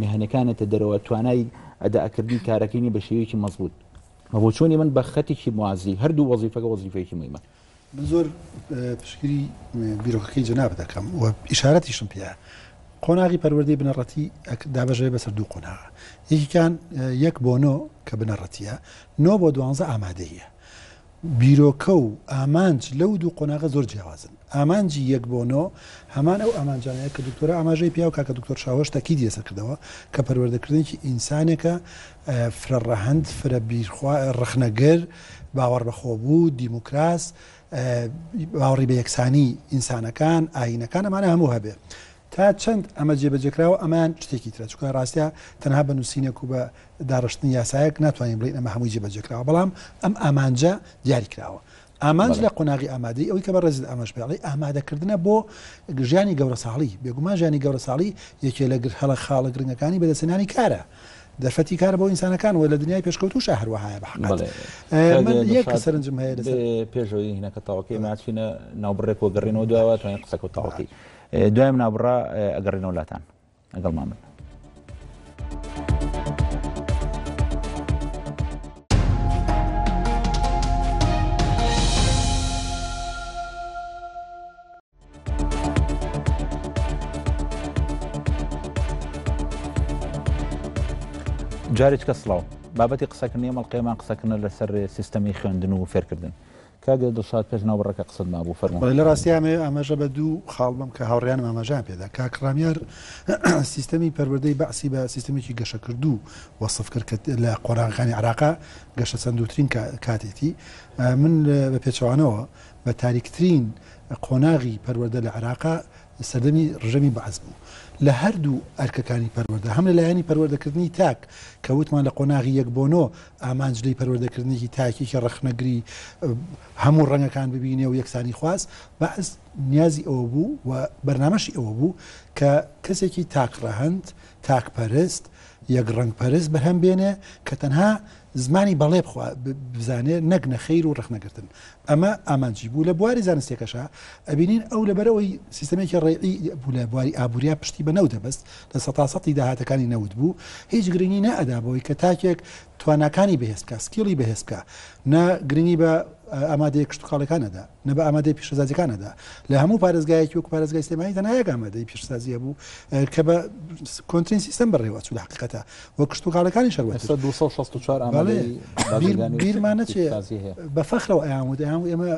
مهنەکانێتە دەرەوە توانای ئەداکردنی کارەکەی بە شێوەیەکی مەزبوط بۆ چۆنی من بە خەتێکی موازی هەردوو وەزیفەکە وەزیفەیەکی مهمە من زۆر پشتگری بیرۆکەکەی جەنابت دەکەم و ئیشارەتیشم پێە قۆناغی پەروەردەی بنەڕەتی دابژێ بەسەر دوو قۆناغە یەکیان یەک بۆ نۆ کە بنەڕەتیە نۆ بۆ دوانزە ئامادەیە بیرۆکە و ئامانج لەو دوو قۆناغە زۆر جیاوازن ئامانجی یەک بۆ نۆ هەمان ئەو ئامانجانەیە کە دکتۆرە ئاماژەی پیا و کاکە دکتۆر شاوەش تاکی دیێسە کردەوە کە پەروەردەکردنێکی ئینسانێکە فرە ڕەهەند، فرە بیرخوا، ڕەخنەگر، باوەڕ بە خۆبوو، دیموکراس، باوەڕی بە یەکسانی ئینسانەکان، ئایینەکان، ئەمانە هەموو هەبێ. تا چەند ئەمە جێبەجێکراوە ئەمان شتێکی ترە، چونکە ڕاستە تەنها بە نووسینێک و بە داڕشتنی یاسایەک ناتوانین بڵێین ئەمە هەمووی جێبەجێکراوە، بەڵام ئەم ئامانجە دیاریکراوە. ئامانج لە قۆناغی ئامادەی ئەوی کە بە ڕێزت ئاماژ پێڵی ئامادەکردنە بۆ ژیانی گەورەساڵی بێگومان ژیانی گەورەساڵی یەکێ لە گر هەڵە خاڵە گرنگەکانی بەدەسێنانی کارە دەرفەتی کار بۆ ئینسانەکان و لە دنیای پێشکەوتوش هەروەهایە بە یەک سەرنجم هەیە پێشەوەی هینەکە تاوەکەی ناچینە ناوبڕێک وەگەڕینەوە داوە توانین قسەکە تاوەکەی دوای منابڕا ئەگەڕێنەوە لاتان لەگەڵمان بن. جارێکە سڵاو بابەتی قسەکردنی ئەمەڵقێمان قسەکردە لەسەر سیستەمی خوێندن و فێرکردن کاک دڵشاد پێش ناوبڕەکە قسەت مابوو فەرموو. بەڵێ لە ڕاستیا ئەمەوێ ئاماژە بە دوو خاڵ بەم کە هاوڕێیانم ئاماژەیان پێدا. کاک ڕامیار سیستەمی پەروەردەی بەعسی بە سیستەمێکی گەشەکردوو وەسف کرد کە لە قۆناغەکانی عێراقا گەشەسەندووترین کاتێتی. من بە پێچەوانەوە بە تاریکترین قۆناغی پەروەردە لە عێراقا سەردەمی ڕژێمی بەعس بوو لە هەردوو ئەرکەکانی پەروەردە هەم لە لایەنی پەروەردەکردنی تاک کە وتمان لە قۆناغی یەک بۆ نۆ ئامانج لێی پەروەردەکردنێکی تاکێکی ڕەخنەگری هەموو ڕەنگەکان ببینێ و یەکسانی خواست بەعس نیازی ئەوە بوو و بەرنامەشی ئەوە بوو کە کەسێکی تاک ڕەهەند تاک پەرست یەک ڕەنگ پەرست بەرهەم بێنێ کە تەنها زمانی بەڵێ بخوا بزانێ نەک نەخیر و ڕەخنەگرتن ئەمە ئامانجی بوو لە بواری زانستێکەشە ئەبینین ئەو لەبەرەوەی سیستمێکی ڕێعی بوو لە بواری ئابوریا پشتی بە نەو دەبست لە سەتاسەتی داهاتەکانی نەوت بوو هیچ گرنگی نەئەدا بەوەی کە تاکێک تواناکانی بەهێزکە سکیڵی بەهێزکە نە گرنگی بە ئامادەیە کشتتوکاڵەکانەدا نە بە ئامادەیی پیشەسازیەکان ئەدا لە هەموو پارێزگایەکی وەکو پارێزگای سلێمانی تەنها یەک ئامادەی پیشەسازی هەبوو کە بە کۆنترین سیستەم بەڕێوە چوو لە حقیقەتە و کشتوکاڵەکانی شەر ئێستا 264 ئامادەی بازرگانی و بیرمان نەچێ پیشەسازی هەیە. بە فەخرەوە ئەیان وت ئەیان و ئێمە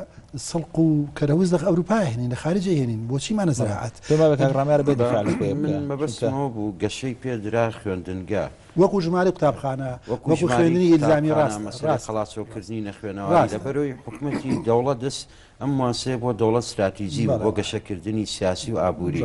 سڵق و کەرەوز لە ئەوروپا هێنین لە خارجی هێنین بۆچیمانە زراعەت پێمان بە کاک ڕامیارە بێ دفاع لە خۆی بکە من چونکە مەبەستمەوە بوو گەشەی پێدرا خوێندنگە وەکو ژمارەی قوتابخانە، وەکو خوێندنی ئیلزامی ڕاست، مەسەلەی خەڵاتۆکردنی نەخوێنەواری لە بەرۆی حکومەتی دەوڵەت دەست ئەم مواسەیە بۆ دەوڵەت ستراتیجی بوو بۆ گەشەکردنی سیاسی و ئابووری.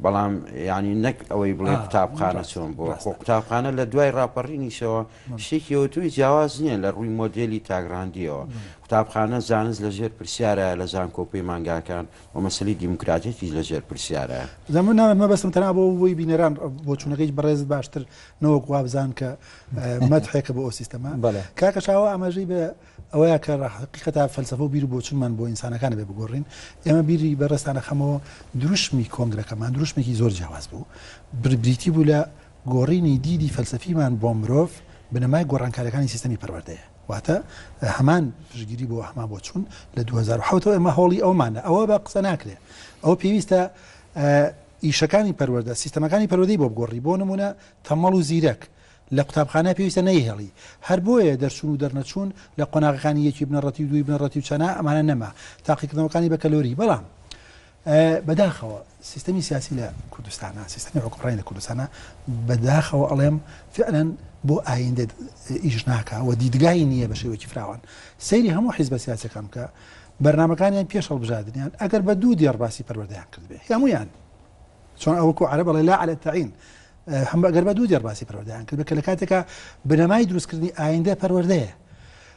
بەڵام یانی نەک ئەوەی بڵێ قوتابخانە چۆن بووە خۆ قوتابخانە لە دوای ڕاپەڕینیشەوە شتێکی ئەوتوی جیاواز نییە لە ڕووی مۆدێلی تاگراندیەوە قوتابخانە زانست لەژێر پرسیارە لە زانکۆ پەیمانگاکان و مەسەلەی دیموکراتیەتیش لە ژێر پرسیارە. دەموو ناوێت مەبەستم تەنها بۆ بووی بینەران بۆچوونەکەی هیچ بەڕێزت باشتر نەوەک وابزان کە مەدحێکە بۆ ئەو سیستەمە بەڵێ کاکە شاوە ئاماژەی بە ئەوەیە کە حقیقەتا فەلسەفە و بیر و بۆچوونمان بۆ ئینسانەکانە بێ بگۆڕین ئێمە بیری بەڕێزتان دەخەمەوە دروشمی کۆنگرەکەمان دروشمێکی زۆر جیاواز بوو بر بریتی بوو لە گۆڕینی دیدی فەلسەفیمان بۆ مرۆڤ بنەمای گۆڕانکاریەکانی سیستەمی پەروەردەیە. واتە هەمان پشتگیری بۆ هەمان بۆچوون لە دوو هەزار و حەوت ەوە ئێمە هەوڵی ئەومانە ئەوە بە قسە ناکرێ ئەوە پێویستە ئیشەکانی پەروەەردە سیستەمەکانی پەرۆدەی بۆ بگۆڕی بۆ نمونە تەمەڵ و زیرەک لە قوتابخانە پێویستە نەیهێڵی هەر بۆیە دەرچوون و دەرنەچوون لە قۆناغەکانی یەکی بنەڕەتی و دووی بنەڕەتی و چەنا ئەمانە نەما تاقیکردنەوەکانی بە کەلۆری بەڵام بەداخەوە سیستەمی سیاسی لە کوردستانە سیستەمی حکوڕی لە کوردستانە بەداخەوە ئەڵێم فعلەن بۆ ئایندە ئیش ناکە و دیدگای نییە بە شێوەی فراوان سەیری هەموو حیزبە سیاسەکەم کە بەرنمەکانیان پێش هەڵبژاردنیان ئەگەر بە دوو دێڕباسی پەروەردەیان کردێ هەمویان چۆن ئەوکو عرب بەڵێ لا على تعین هەم بەگەر بە دوو دێڕباسی پەروەردەیان کرد بە کە لە کاتێکا بنەمای دروستکردنی ئایندە پەروەردەیە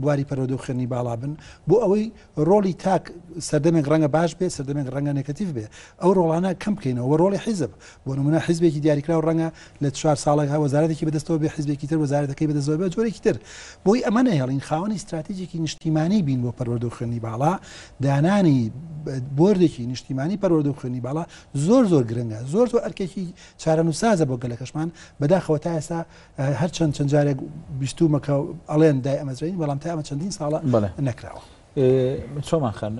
بواری پەروەردە و خوێندنی باڵا بن، بۆ ئەوەی ڕۆڵی تاک سەردەمێک ڕەنگە باش بێت، سەردەمێک ڕەنگە نێکەتیڤ بێت، ئەو ڕۆڵانە کەم بکەینەوە و ڕۆڵی حیزب، بۆ نموونە حیزبێکی دیاریکراو ڕەنگە لە چوار ساڵێکدا وەزارەتێکی بەدەستەوە بێت، حیزبێکی تر وەزارەتەکەی بەدەستەوە بێت و جۆرێکی تر. بۆی ئەمە نەهێڵین خاوەنی ستراتیجێکی نیشتیمانی بین بۆ پەروەردە و خوێندنی باڵا، دانانی بۆردێکی نیشتیمانی پەروەردە و خوێندنی باڵا زۆر زۆر گرنگە، زۆر زۆر ئەرکێکی چارەنووسسازە بۆ گەلەکەشمان، بەداخەوە تا ئێستا هەر چەند چەند جارێک بیستومە کە ئەڵێن دای ئەمەزرین بەڵام تا ئەمە چەندین ساڵە نەکراوە چۆمان خان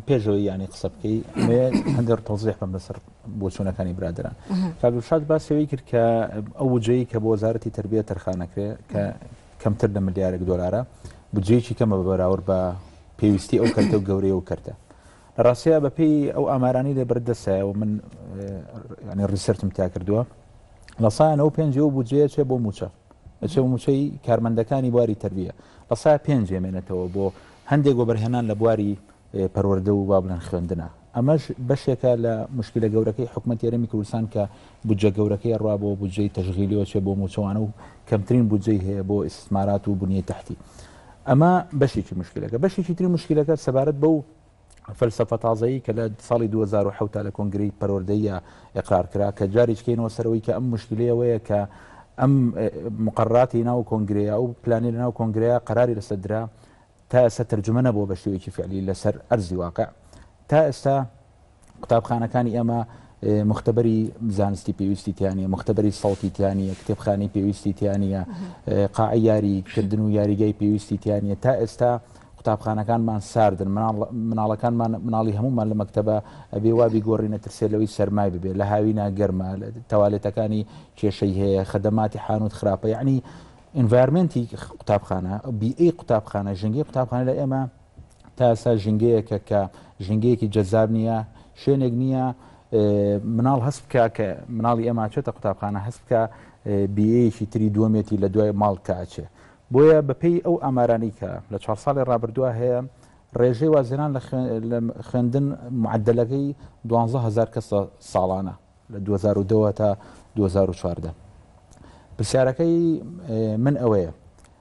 پێشەوەی ینی قسە بکەی هەندێک تۆزیح بم لەسەر بۆ چوونەکانی برادران کاگوشاد باسەوەی کرد کە ئەو وجەیە کە بۆ وەزارەتی تربیە تەرخانەکرێ کە کەمتر لە ملیارێک دلارە بجێکی کەمە بەراورد بە پێویستی ئەو کەرتە و گەورەیە و کەرتە لە ڕاستیا بە پێی ئەو ئامارانەی لە بەر دەسایە و من ینی ڕیسرتم تیا کردووە لە سا نەوە پێنج و بودجەیە چێ بۆ موچە ئەچێ موچەی کارمەندەکانی بواری تربیە لە سا پێنج مێنێتەوە بۆ هەندێک وەبەرهێنان لە بواری پەروەەردە و بابلەن خوێندنە ئەمەش بەشێکە لە مشکلە گەورەکەی حکومت یارەمی کوردستان کە بودجە گەورەکەی ڕوا بۆ بودجەی تەژغیلیەوە چێ بۆ موچەوانە و کەمترین بودجەی هەیە بۆ ئیسمارات و بنیە تحتی. ئەمە بەشێکی مشکلەکە بەشێکی تری مشکلەکە سەبارەت بەو فەلسفە تازایی کە لە ساڵی 2010 تا لە کۆنگری پەروەردەیە ئقرار کرا کە جاریش کەینەوە سەرەوەی کە ئەم مشکلەیەوەیە کە ئەم مقرراتی ناو کۆنگرەیە ئەو پلانی لە ناو کۆنگرەیە قراری لەسەر درا تا ئێستا ترجمە نەبووە بە شێوەیەکی فعلی لەسەر ئەرزی واقع تا ئێستا قوتابخانەکانی ئێمە مختبەری زانستی پێویستی تیانە مختبەری سەڵتی تیانە کتێبخانی پێویستی تیانە قاعی یاری کردن و یاریگای پێویستی تیانە تا ئێستا قوتابخانەکانمان ساردن مناڵەکانمان مناڵی هەمومان لە مەکتتەبە ئەبێ وابی گۆڕینە ترسێ لەوەی سەرمای ببێ لە هاوی ناگەرمە تەوالێتەکانی کێشەی هەیە خدەماتی حانوت خراپە یعنی ئینڤارمنتی قوتابخانە بی ئەی قوتابخانە ژنگی قوتابخانە لە ئێمە تا ئێستا ژینگەیەکە کە ژینگەیەکی جەزاب نییە شوێنێک نییە مناڵ هەست بکە کە مناڵی ئەما چێتە قوتابخانە هەست بکە بیەیەکی تری دووەمێتی لە دوای ماڵ کاچێ بۆیە بەپێی ئەو ئامارانی کە لە چوار ساڵی ڕابردووە هەیە ڕێژەی وازێنان لە خوێندن معدلەکەی دوهزار کەس ساڵانە لە 2010 تا 2014 پرسیارەکەی من ئەوەیە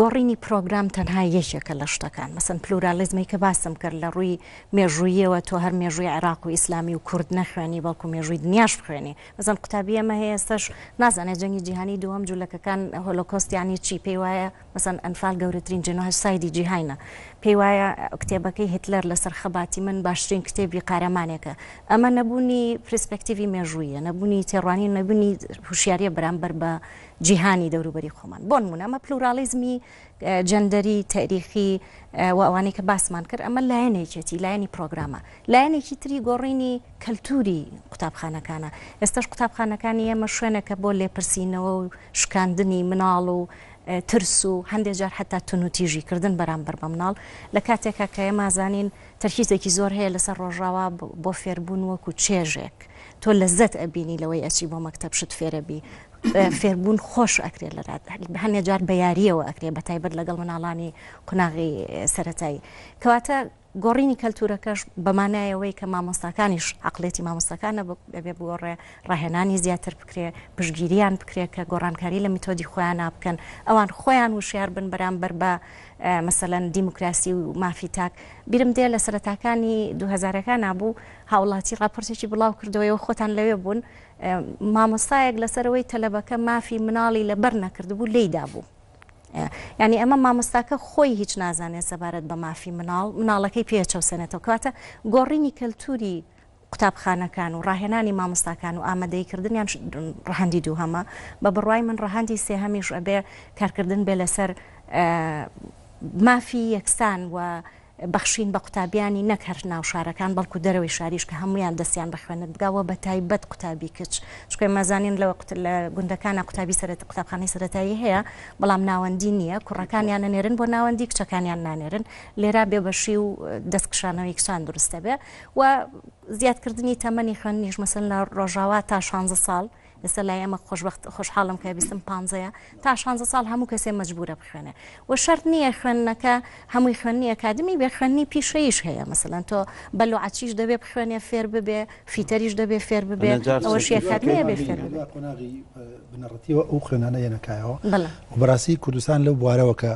گۆڕینی پرۆگرام تەنها یەکێکە لە شتەکان مەسەن پلورالیزمی کە باسم کرد لە ڕووی مێژوویەوە تۆ هەر مێژووی عێراق و ئیسلامی و کورد نەخوێنی بەڵکو مێژووی دنیاش بخوێنی مەزەن قوتابی ئەمە هەیە ئێستش نازانێت جەنگی جیهانی دووەم جوولەکەکان هۆلۆکۆستیانی چی پێی وایە مەسەن ئەنفال گەورەترین جنۆه سایدی جیهینە پێی وایە کتێبەکەی هتلەر لەسەر خەباتی من باشترین کتێبی قارەمانێکە ئەمە نەبوونی پرسپەکتیوی مێژوویە نەبوونی تێڕوانی نەبوونی هوشیاریە بەرامبەر بە جیهانی دەوروبەری خۆمان بۆ نمونە ئەمە پلوراڵیزمی جەندەری تاریخی و ئەوانەی کە باسمان کرد ئەمە لایەنێکێتی لایەنی پرۆگرامە لایەنێکی تری گۆڕینی کەلتوری قوتابخانەکانە ئێستش قوتابخانەکانی ئێمە شوێنەکە بۆ لێپرسینەوە و شکاندنی مناڵ و ترس و هەندێک جار حتا تونوتیژی کردن بەرامبەر بە مناڵ لە کاتێکا کە ئێمازانین تەرکیزێکی زۆر هەیە لەسەر ڕۆژاوا بۆ فێربوون وەکو چێژێک تۆ لە زەت ئەبینی لەوەی ئەچی بۆ مەکتب شت فێرەبی فێربوون خۆش ئەکرێت لە هەندێک جار بە یاریەوە ئەکرێت بە تایبەت لەگەڵ مناڵانی قوناغی سەتایی کەواتە گۆڕینی کەلتورەکەش بەمانایەوەی کە مامۆستاکانیش عقلێتی مامۆستاکانە بەبێ بگۆڕێ ڕاهێنانی زیاتر بکرێ پشگیریان بکرێت کە گۆڕانکاری لە میتۆدی خۆیان نابکەن ئەوان خۆیان وشیار بن بەرامبەر بە مەسەەن دیموکراسی و مافی تاک بیرم دێ لە سەرەتاکانی دوهزارەکان نبوو هاوڵاتی راپۆرتێکی بڵاو کردەوەی و خۆتان لەوێ بوون مامۆستایەک لەسەر ئەوەی تەلەبەکە مافی مناڵی لەبەر نەکردبوو لێی دابوو یعنی ئەمە مامۆستاکە خۆی هیچ نازانێت سەبارەت بە مافی مناڵ مناڵەکەی پێچەوسێنێتەوە کاتە گۆڕینی کەلتوری قوتابخانەکان و ڕاهێنانی مامۆستاکان و ئامادەی کردنیان ڕەهندی دوو هەمە بە بڕای من ڕەهندی سێهەمیش ئەبێ کارکردن بێ لەسەر مافی یەکسان و بەخشین بە قوتابیانی نەک هەر ناو شارەکان بەڵکو دەرەوەی شاریش کە هەموویان دەستیان بە خوێنەت بگا وە بە تایبەت قوتابی کچ چونکە ئێمە زانین لە لە گوندەکانا قوتابی سەرەت قوتابخانەی سەرەتایی هەیە بەڵام ناوەندی نییە کوڕەکانیان نەنێرن بۆ ناوەندی کچەکانیان نانێرن لێرا بێبەشی و دەست کشانەوەی کچان دروستە بێ و زیادکردنی تەمەنی خوێندنیش مەسەن لە ڕۆژاوا تا 16 ساڵ ئێستا لای ئەمە خۆشبخت خۆشحاڵم کە بیستم پانزەیە تا شانزە ساڵ هەموو کەسێ مەجبورە بخوێنێ و شەرت نییە خوێندنەکە هەمووی خوێننی ئەکادمی بێ خوێننی پیشەیش هەیە مەسەلەن تۆ بەلوعەچیش دەبێ بخوێنێ فێر ببێ فیتەریش دەبێ فێر ببێ ئەوەشیەکادمیە بێ فێر بنەڕەتیەوە ئەو خوێنانە یەنەکایەوە بەڕاستی کوردستان لەو بوارەوە کە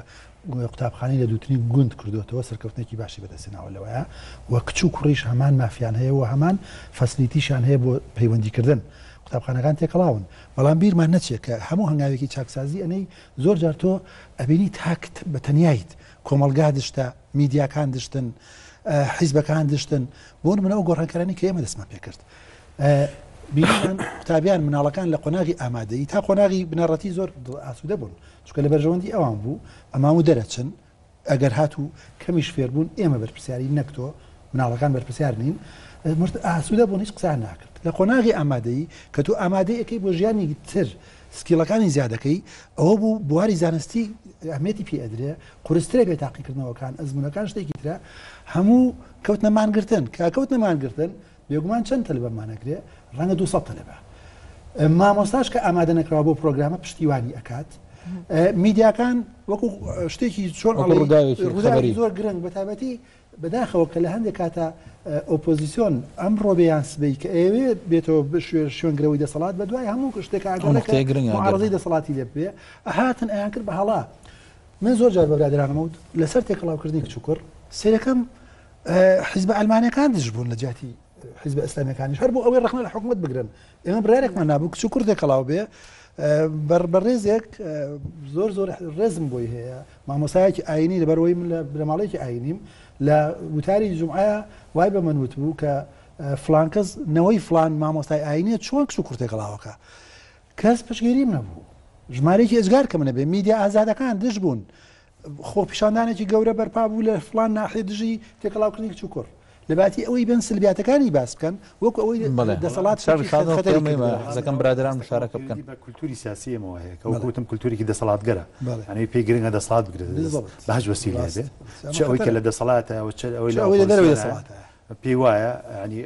قوتابخانەی لە دووتنی گوند کردووەتەوە سەرکەوتنێکی باشی بەدەستێناوە لەوەیە و کچ و کوڕیش هەمان مافیان هەیە و هەمان فەسلیتیشان هەیە بۆ پەیوەندیکردن قوتابخانەکان تێکەڵاون بەڵام بیرمان نەچێت کە هەموو هەنگاوێکی چاکسازی ئەنەی زۆر جار تۆ ئەبینی تاک بە تەنیایت کۆمەڵگا دشتە میدیاکان دشتن حیزبەکان دشتن بۆ نمونە ئەو گۆڕانکارانی کە ئێمە دەستمان پێکرد بینیمان قوتابیان مناڵەکان لە قۆناغی ئامادەی تا قۆناغی بنەڕەتی زۆر ئاسوودە بوون چکە لە بەرژەوەندی ئەوان بوو ئەما و دەرەچن ئەگەر هاتوو کەمیش فێربوون ئێمە بەرپسیاری نەکتۆ مناڵەکان بەرپسیار نین مرد ئاسوودە بوون هیچ قسان ناکرد لە قۆناغی ئامادەی کە تو ئامادەیەکەی بۆ ژیانی تر سکیڵەکانی زیادەکەی ئەوە بوو بواری زانستی ئەمێتی پێ ئەدرێ قرسترە بێ تاقیکردنەوەکان ئەزمونونەکان شتێکی ترە هەموو کەوت نەمانگرتن کە کەوت نەمانگرتن بێگومان چەند تەلەبەمان ئەگرێ ڕەنگە دوو سەد تەلەبە مامۆستاش کە ئامادە نەکراوە بۆ پرۆگرامە پشتیوانی ئەکات میدیاکان وەکو شتێکی چۆن ڕووداوی زۆر گرنگ بە تابەتی بەداخەوە کە لە هەندێک کاتە ئۆپۆزیسیۆن ئەم ڕۆبیان سبەی کە ئەوێ بێتەوە بشێ شوێنگرەوەی دەسەڵات بە دوای هەموو شتێکە ئەگەڕێکڕزی دەسەڵاتی لێ بێ هاتن ئەیان کرد بە هەڵا من زۆر جار بەبرادرانمەوت لەسەر تێکەڵاوکردنی کچوکڕ سیرەکەم حیزبە ئەلمانەکان دژ بوون لە جیاتی حیزبە ئەسلامەکانیش هەر بۆ ئەوەی ڕخنە لە حکوومەت بگرن ئێمە برارێکمان نابوو کچ و کوردێک کەڵاو بێ بە ڕێزێک زۆر زۆر ڕێزم بۆی هەیە مامۆسایەکی ئاینی لەبەرەوەی من لە برەماڵێکی ئاینیم لە وتاری جمعایە وای بە من وت بوو کە فلانکەس نەوەی فلان مامۆستای ئاینە چۆن کچ و کوورتێک گەڵاوەکە کەس پشگیریم نەبوو ژمارەێکی ئەزگار کە منە بێ میدیا ئازادەکان دژ بوون خۆپیشاندانێکی گەورە بەرپا بوو لە فڵان ناحیە دژی تێکەڵاوکردنی کچ و کوڕ، لەباتی ئەوەی بێن سلبیاتەکانی باس بکەن وەکو ئەوەی بەڵێ دەسەڵات سەر شادۆ خەتەری خەتەری ئێمەی کردووە. حەزەکەم برادەران مشارەکە بکەن. پەیوەندی بە کولتووری سیاسی ئێمەوە هەیە کە وەک بەڵێ. وتم کولتوورێکی دەسەڵاتگەرە، بەڵێ. یانی پێی گرنگە دەسەڵات بگرێتە دەست بالضبط. بە هەچ وەسیلەیەک ڕاست. بێت، ئەمە چ ئەوەی کە خەتەرە. لە دەسەڵاتایە و چ ئەوەی چ لە ئەوەی لە دەرەوەی ئۆپۆزسیۆنایە. دەسەڵاتایە. پێی وایە ینی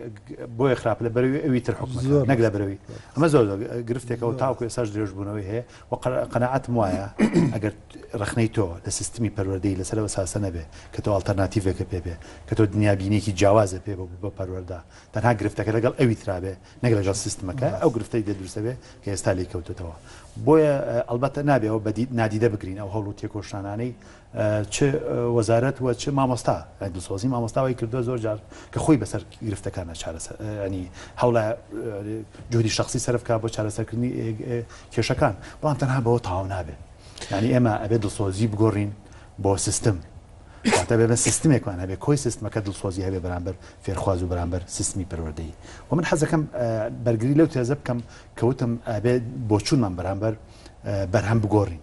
بۆیە خراپ لە بەروی ئەوی تر حکومە نەک لە برەوی ئەمە زۆر گرفتێکەوە تاوکو ئێساش درێژبوونەوەی هەیە و قەنەعاتم وایە ئەگەر ڕخنەی تۆ لە سیستمی پەروەردەی لەسەرەوە ساسە نەبێ کە تۆ ئاڵتەرناتیڤێکە پێ بێ کە تۆ دنیابینێکی جیاوازە پێ بە بە پەروەەردا تەنها گرفتەکە لەگەڵ ئەوی ترابێ نەک لەگەڵ سیستمەکە ئەو گرفتەی دە دروستەبێ کە ئێستا لی کەوتێتەوە بۆیە ئەلبەتە نابێەوە بەدی نادیدە بگرین ئەو هەڵ و تێکۆشانانەی چ وەزارەت و چ مامۆستا دڵسۆزی مامۆستا وای کردووە زۆر جار کە خۆی بەسەر گرفتەکانە چارەسەر ئەنی هەوڵە جوودی شخصی سەرفکە بۆ چارەسەرکردنی کێشەکان بەڵام تەنها بەوە تاو نابێت ینی ئێمە ئەبێت دڵسۆزی بگۆڕین بۆ سیستم واتە بێ بە سیستمێکمان هەبێ کۆی سیستمەکە دڵسۆزی هەبێ بەرامبەر فێرخواز و بەرامبەر سیستمی پەروەردەی و من حەزەکەم بەرگری لەو تێزە بکەم کەوتم ئەبێت بۆچوونمان بەرامبەر بەرهەم بگۆڕین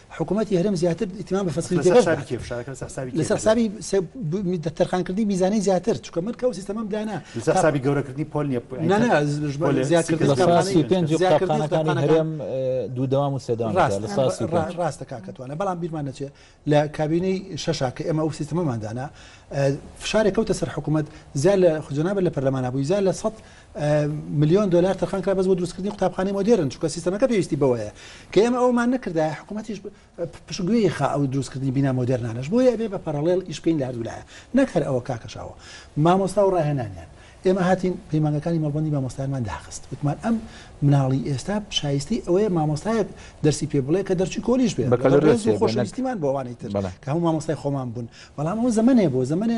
حکومەتی هەرێم زیاتر ئیتمام بە فەسلی دەرەش بە لەسەر حسابی تەرخانکردنی میزانەی زیاتر چکە من کەو سیستەمەم دانا لەسەر حسابی گەورەکردنی پۆلیە زیاترەکانی هەرێم دوو دەوام و سێدان ڕاستە کاکەتوانە بەڵام بیرمان نەچێ لە کابینەی شەشا کە ئێمە ئەو سیستەمەمان دانا فشارێک کەوتە سەر حکوومەت زیاد لە خجنابە لە پەرلەمانە بووی زیاد لە سە ملیۆن دۆلار تەرخان کرا بەس بۆ دروستکردنی قوتابخانەی مۆدێرن چونکە سیستەمەکە پێویستی بەوەیە کە ئێمە ئەومان نەکردایە حکوومەتیش پشتگوێی خا ئەو دروستکردنی بینا مۆدێرنانەش بۆیە ئەبێ بە پەڕەڵێڵ ئیش بکەین لە هەردوولایە نەک هەر ئەوە کاکەشاوە مامۆستا و ڕاهێنانیان ئێمە هاتین پەیمانگەکانی مەڵبندی مامۆستایانمان داخست وتمان ئەم مناڵی ئێستا شایستی ئەوەیە مامۆستایەک دەرسی پێ بڵێ کە دەرچی کۆلیش بێ بەکەڵێزی خۆشەویستیمان بۆوانی تر کە هەموو مامۆستای خۆمان بوون بەڵام ئەو زمانێ بۆ زمانێ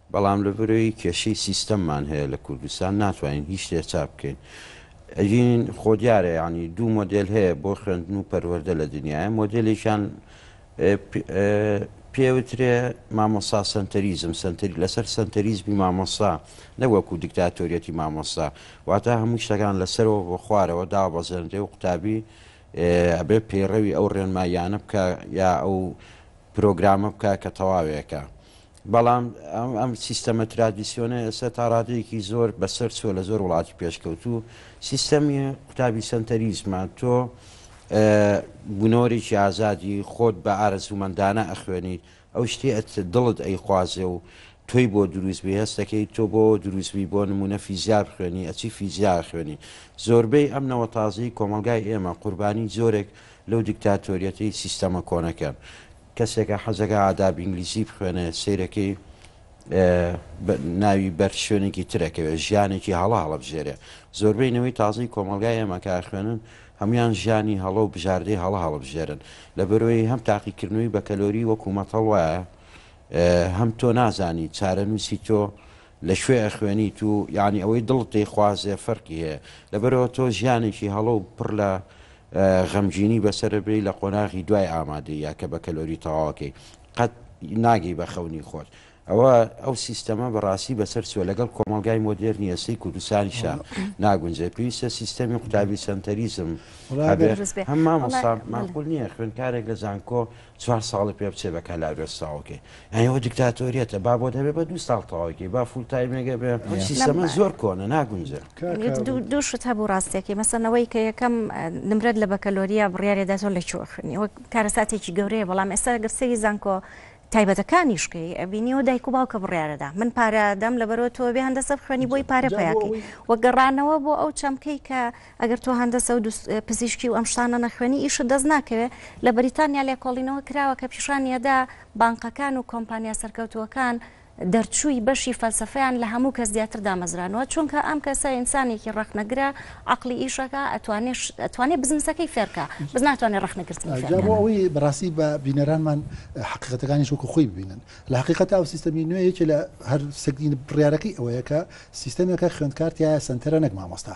بەڵام لەبەرەوەی کێشەی سیستەممان هەیە لە کوردستان ناتوانین هیچ شتێ چاپ بکەین ئەگین خۆ دیارە یانی دوو مۆدێل هەیە بۆ خوێندن و پەروەردە لە دنیاە مۆدێلێکیان پێوترێ مامۆسا سەنتەریزم سەنتەری لەسەر سەنتەریزمی مامۆسا نەوەکو دیکتاتۆریەتی مامۆسا واتە هەموو شتەکان لەسەرەوە بۆ خوارەوە دابەزێنرێ و قوتابی ئەبێ پەیڕەوی ئەو ڕێنماییانە بکە یا ئەو پرۆگرامە بکە کە تەواوێکە بەڵام ئەم سیستەمە ترادیسیۆنە ئێستا تا ڕادەیەکی زۆر بەسەر چووە لە زۆر وڵاتی پێشکەوتوو، سیستەمی قوتابی سەنتەریزمە، تۆ بنۆرێکی ئازادی، خۆت بە ئارەزوومەندانە ئەخوێنیت، ئەو شتەی دڵت ئەیخوازێ و تۆی بۆ درووست بووی، هەست دەکەیت تۆ بۆ درووست بووی، بۆ نموونە فیزیا بخوێنی، ئەچی فیزیا ئەخوێنی. زۆربەی ئەم نەوە تازەی کۆمەڵگای ئێمە قوربانی جۆرێک لەو دیکتاتۆریەتەی سیستەمە کۆنەکەن. کەسێکە حەزەکە ئاداب ئینگلیزی بخوێنێ سەیرەکەی ناوی بەر شوێنێکی ترەکەوێت ژیانێکی هەڵە هەڵبژێرێ زۆربەی نەوەی تازەی کۆمەلگای ئێمە کار خوێنن هەموان ژیانی هەڵە و بژاردەی هەڵە هەڵبژێرن لە بەرۆی هەم تاقیکردنەوەی بە کەلۆری وەکوومەت هەڵوایە هەم تۆ نازانی چارەنووسی تۆ لە شوێ ئەخوێنی تو یعنی ئەوەی دڵت دەیخوازێ فەرقی هەیە لەبەرەوە تۆ ژیانێکی هەڵە و پڕ لە غەمگینی بەسەرت بێی لە قۆناغی دوای ئامادەیی یا کە بە کەلۆری تەواوەکەی قەت ناگەی بە خەونی خۆت ئەوە ئەو سیستەمە بەڕاستی بەسەر چوە لەگەڵ کۆمەلگای مۆدێرنی ئێستەی کوردستانیشا ناگونجێ پێویستە سیستەمی قوتابی سەنتەریزم هەبێ هەم مامۆستا ماقول نییە خوێنکارێک لە زانکۆ چوار ساڵی پێ بچێ بە کەلارێس تەواو کەی یانی ئەوە دیکتاتۆریەتە با بۆت هەبێ بە دوو ساڵ تەواوی کەی با فول تایمێگە بێ ئەم یە. سیستەمە نەبا. زۆر کۆنە ناگونجێ. کاکە یت دوو عەبدول. دوو شت هەبوو ڕاستیەکەی مەسەن ئەوەی کە یەکەم ئە، نمرەت لە بەکەلۆریا بڕیارێ دا تۆ لە کوێ خوێنی ئەوە کارەساتێکی گەورەیە بەڵام ئێستا گەر سەیری زانکۆ تایبەتەکانیش کەی ئەبینی ئەوە دایک و باوکە بڕیارە دا من پارە دەم لەبەرئەوە تۆ بێ هەندەسە بخوێنی بۆی پارە جا بۆ پیاکەی ئەوەی وە گەڕانەوە بۆ ئەو چەمکەی کە ئەگەر تۆ هەندەسە و پزیشکی و ئەم شتانە نەخوێنی ئیشت دەست ناکەوێت لە بەریتانیا لێکۆڵینەوە کراوە کە پیشانیەدا بانقەکان و کۆمپانیا سەرکەوتووەکان دەرچووی بەشی فەلسفەیان لە هەموو کەس زیاتر دامەزرانەوە چونکە ئەم کەسە ئینسانێکی ڕخنەگرە عقلی ئیشەکە ئەتوانێ بزنسەکەی فێرکە بز ناتوانێت ڕخنەگرتن ئەوەی بەڕاستی بە بینەرانمان حقیقەتەکانی شوکو خۆی ببینن لە حقیقەت ئەو سیستەمی نوێ یەکێ لە هەر سەگین بڕارەکەی ئەوەیە کە سیستەمێکە خوێندکارتیایە سنتەرە نەک مامۆستا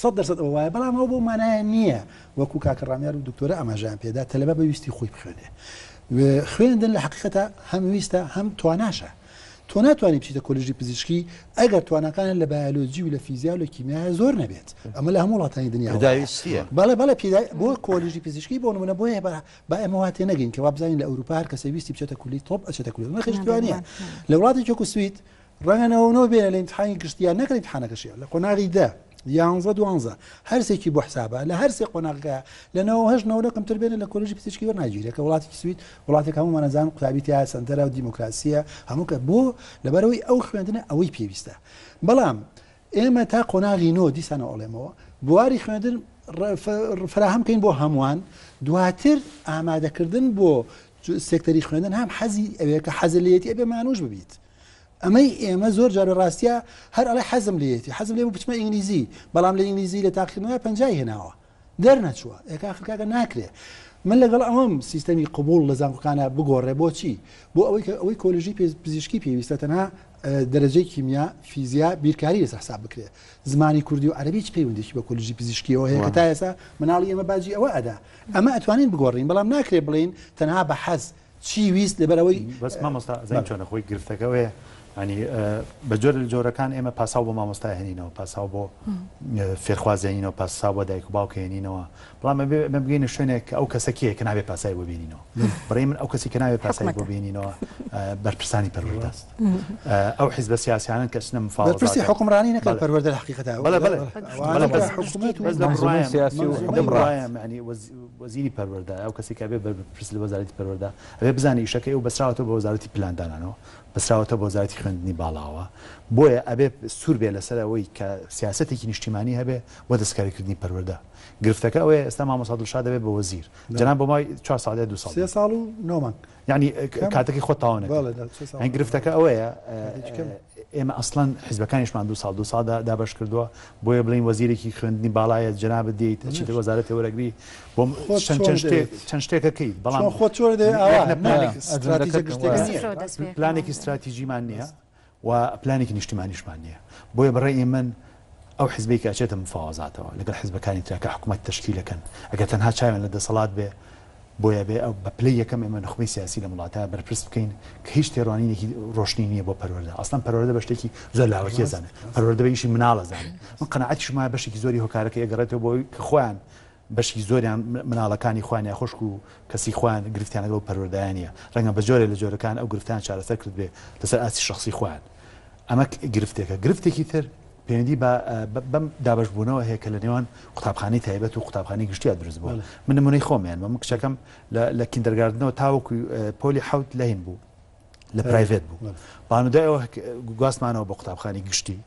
سەد دەرسەد ئەوە وایە بەڵام ئەوە بەو مانایە نییە وەکو کاکە ڕامیار و دکتۆرە ئاماژەیان پێدا تەلەبە بە ویستی خۆی بخوێنێ و خوێندن لە حەقیقەتا هەم ویستە هەم تواناشە تۆ ناتوانانی بچیتە کۆلیژی پزیشکی ئەگەر تواناکانت لە بایۆلۆجی و لە فیزیا و لە کیمیایە زۆر نەبێت ئەمە لە هەموو وڵاتانی دنیا وایە پێداویستییە بەڵێ بەڵێ پێدا بۆ کۆلیژی پزیشکی بۆ نمونە بۆیە با با ئێمە وا تێ نەگەین کە وا بزانین لە ئەوروپا هەر کەسێ ویستی بچێتە کولی تۆپ ئەچێتە کولی نرخیش توانییە نەبووە. لە وڵاتێکی وەکو سوید ڕەنگە نەوەو نەوە بێنە لە ئیمتحانی گشتی یان نەکەن ئیمتحانەکەشیان لە قۆناغی دە یانزە دوانزە هەرسێکی بۆ حسابە لە هەرسێ قۆناغەکە لە نەوە هەش نەوە لە کەمتر بێنە لە کۆلژی پزیشکی وەر ناگیرێکە وڵاتێکی سوید وڵاتێک هەموو مانەزان قوتابی تیا سندەرە و دیموکراسیە هەموو کە بۆ لەبەرەوەی ئەو خوێندنە ئەوەی پێویستە بەڵام ئێمە تا قۆناغی نۆ دیسانە ئەڵێمەوە بواری خوێندن فراهەم کەین بۆ هەمووان دواتر ئامادەکردن بۆ سێکتەری خوێندن هەم حەزی ئەوەیە کە حەزلیەتی ئەبێ مانوش ببیت ئەمەی ئێمە زۆر جار لە ڕاستیا هەر ئەڵێ حەزم لێیەتی حەزم لێ بوو بچمە ئینگلیزی بەڵام لە ئینگلیزی لە تاقیکردنەوەی پەنجای هێناوە دەرنەچووە ئێک ئاخر کاکە ناکرێ من لەگەڵ ئەوەم سیستەمی قبوڵ لە زانکۆکانە بگۆڕێ بۆچی بۆ ئەوەی کە ئەوەی کۆلژی پێ- پزیشکی پێویستە تەنها اه، دەرەجەی کیمیا فیزیا بیرکاری لەسەر حساب بکرێ زمانی کوردی و عەربی هیچ پەیوەندێکی بە کۆلژی پزیشکیەوە هەیە کە واه. تا ئێستا مناڵی ئێمە باجی ئەوە ئەدا ئەمە ئەتوانین بگۆڕین بەڵام ناکرێ بڵین تەنها بە حەز چی ویست لەبەرەوەی بەس مامۆستا زین چۆنە خۆی گرفتەکەەوەیە ینی بە جۆر لە جۆرەکان ئێمە پاساو بۆ مامۆستا هێنینەوە پاساو بۆ فێرخوازێنینەوە پاسا بۆ دایک و باوکێنینەوە بەڵام ئەمە بگەینە شوێنێک کە ئەو کەسەکیە کە نابێ پاسای بۆ بینینەوە بڕێ من ئەو کەسی کە ناوێ پاسای بۆ بینینەوە بەرپرسانی پەروەدەست ئەو حیزبە سیاسیانن کە سنە مفاڵ پرسی حکومڕانی نەکە پەروەدە حقیقەتە بەڵێ بەڵێ سیاسی و وەزیری پەروەردە، ئەو کەسێک کە ئەبێت بەرپرس لە وەزارەتی پەروەردە، ئەبێت بزانێت ئیشەکەی ئەو بەستراوەتەوە بە وەزارەتی پلاندانانەوە، بەستراوەتەوە بە وەزارەتی خوێندنی باڵاوە، بۆیە ئەبێت سوور بێت لەسەر ئەوەی کە سیاسەتێکی نیشتیمانی هەبێت بۆ دەستکاریکردنی پەروەردە. گرفتەکە ئەوەیە ئێستا مامۆستا دڵشاد ئەبێت بە وەزیر، جەنابم بۆ ماوەی چوار ساڵ یا دوو ساڵ بوو. سێ ساڵ و نۆ مانگ. یعنی کاتەکەی خۆ تاوانەکە گرفتەکە ئەوەیە ئێمە ئەسڵەن حزبەکانیشمان دو ساڵ دو سادا دابش کردووە بۆیە بڵین وەزیرێکی خوێندنی باڵایە جناب دێیت چیتر وەزارە تێوەرەگری بۆ چەند شتێکەکەی بەڵام خۆ پلانێکی استراتیژیمان نییە و پلانێکی نیشتیمانیشمان نییە. بۆیە بە ڕای من ئەو حزبەی کە ئەچێتە مفاوەزاتەوە لەگەڵ حزبەکانی ترا کە حکومەت تەشکیل ئەکەن، ئەگەر تەنها چاویان لە دەسەڵات بێ، بۆیە ئەبێ بە پلەی یەکەم ئێمە نوخبەی سیاسی لەم وڵاتە بەرپرس بکەین کە هیچ تێڕوانینێکی ڕۆشنی نییە بۆ پەروەردە. ئەسڵەن پەروەردە بە شتێکی زۆر لاوەکی ئەزانێ. پەروەردە بە ئیشی مناڵ ئەزانێ. من قەناعەتیشم وایە بەشێکی زۆری هۆکارەکەی ئەگەڕێتەوە بۆ ئەوەی کە خۆیان بەشی زۆریان مناڵەکانی خۆیان یا خوشک و کەسی خۆیان گرفتیان لەگەڵ پەروەردایان نیە ڕەنگە بە جۆرێ لە جۆرەکان ئەو گرفتان چارەسەر کردبێ لەسەر ئاستی شەخسی خۆیان ئەمە گرفتێکە گرفتێکی تر پەیوەندی بە بەم دابش بوونەوە هەیە کە لە نێوان قوتابخانی تایبەت و قوتابخانی گشتیا دروست بووە من نمونەی خۆمیان بە من کچەکەم لە کیندەرگاردنەوە تاوەکو پۆلی حوت لە هین بوو لە پرایڤێت بوو بەڵام دوای ئەوە گواستمانەوە بۆ قوتابخانی گشتی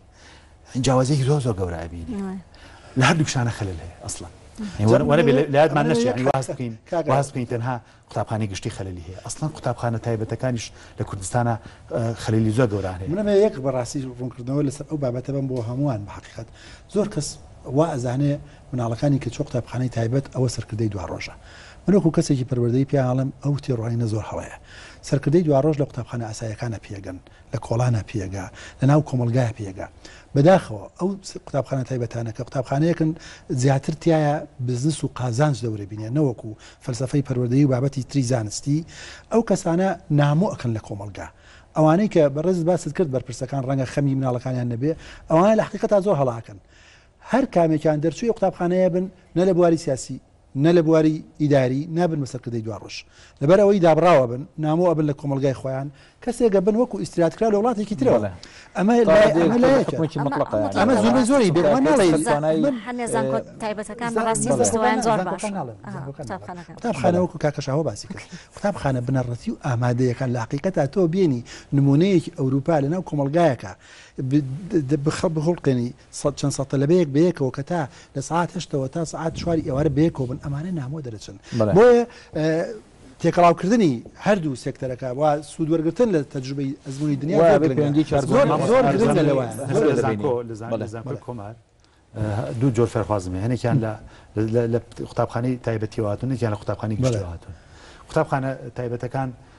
جیاوازێکی زۆر زۆر گەورە ئەبینی لە هەردوو شانە خەلل هەیە ئەسڵەن لایەتمان نەشیانی واز بکەین واز بکەین تەنها قوتابخانی گشتی خەللی هەیە ئەسڵەن قوتابخانە تایبەتەکانیش لە کوردستانە خەللی زۆر گەوران هەیە منە یەک بەڕاستی ڕوونکردنەوە لەسەر ئەو بابەتە بم بۆ هەمووان بە حقیقت زۆر کەس وا ئەزانێ مناڵەکانی کچ و قوتابخانەی تایبەت ئەوە سەرکردەی دواڕۆژە من وەکو کەسێکی پەروەردەی پێیان ئەڵێم ئەو تێڕوانینە زۆر هەڵەیە سەرکردەی دواڕۆژ لە قوتابخانە ئاسایەکانە پێگەن لە کۆڵانە پێگە لە ناو کۆمەڵگایە پێگە بەداخەوە ئەو قوتابخانە تایبەتانە کە قوتابخانەیەکن زیاتر تایە بزنس و قازانج دەورە بینێ نەوەکو فەلسەفەی پەروەردەی و بابەتی تری زانستی ئەو کەسانە نامۆ ئەکەن لە کۆمەڵگا ئەوانەی کە بەڕێزت باست کرد بەرپرسەکان ڕەنگە خەمی مناڵەکانیان نەبێ ئەوانە لە حەقیقەتا زۆر هەڵە ئەکەن هەر کامێکیان دەرچووی قوتابخانەیە بن نە لە بواری سیاسی نە لە بواری ئیداری نابن بە سەرکردەی دواڕۆژ لەبەر ئەوەی دابڕاوە بن نامۆ ئەبن لە کۆمەڵگای خۆیان کەسێک ئەبن وەکو ئیسترات کرا لە وڵاتێکی ترەوە ئەمە ئەمە زۆر زۆری بێ قوتابخانەوەکو کاکەشەوە باسی کرد قوتابخانە بنەڕەتی و ئامادەیەکان لە حقیقەتا تۆ بینی نمونەیەکی ئەوروپا لەناو کۆمەلگایەکە بخەڵ بخڵقێنی سەد چەند سەد تەلەبەیەک بەیەکەوە کە تا لە سەعات هەشتەوە تا سەعات چواری ئێوارە بەیەکەوە بن ئەمانە نامۆ دەرەچن بۆیە تێکەڵاو کردنی هەردوو سێکتەرەکە وا سوود وەرگتن لە تەجروبەی ئەزموونی دنیا زۆر گرنگی کار زۆر زۆر گرنگە لەوان کۆمار دوو جۆر فێرخوازم هەنێکیان لە لە قوتابخانەی تایبەتیواتون نێکیان لە قوتابخانی گشتواتون قوتابخانە تایبەتەکان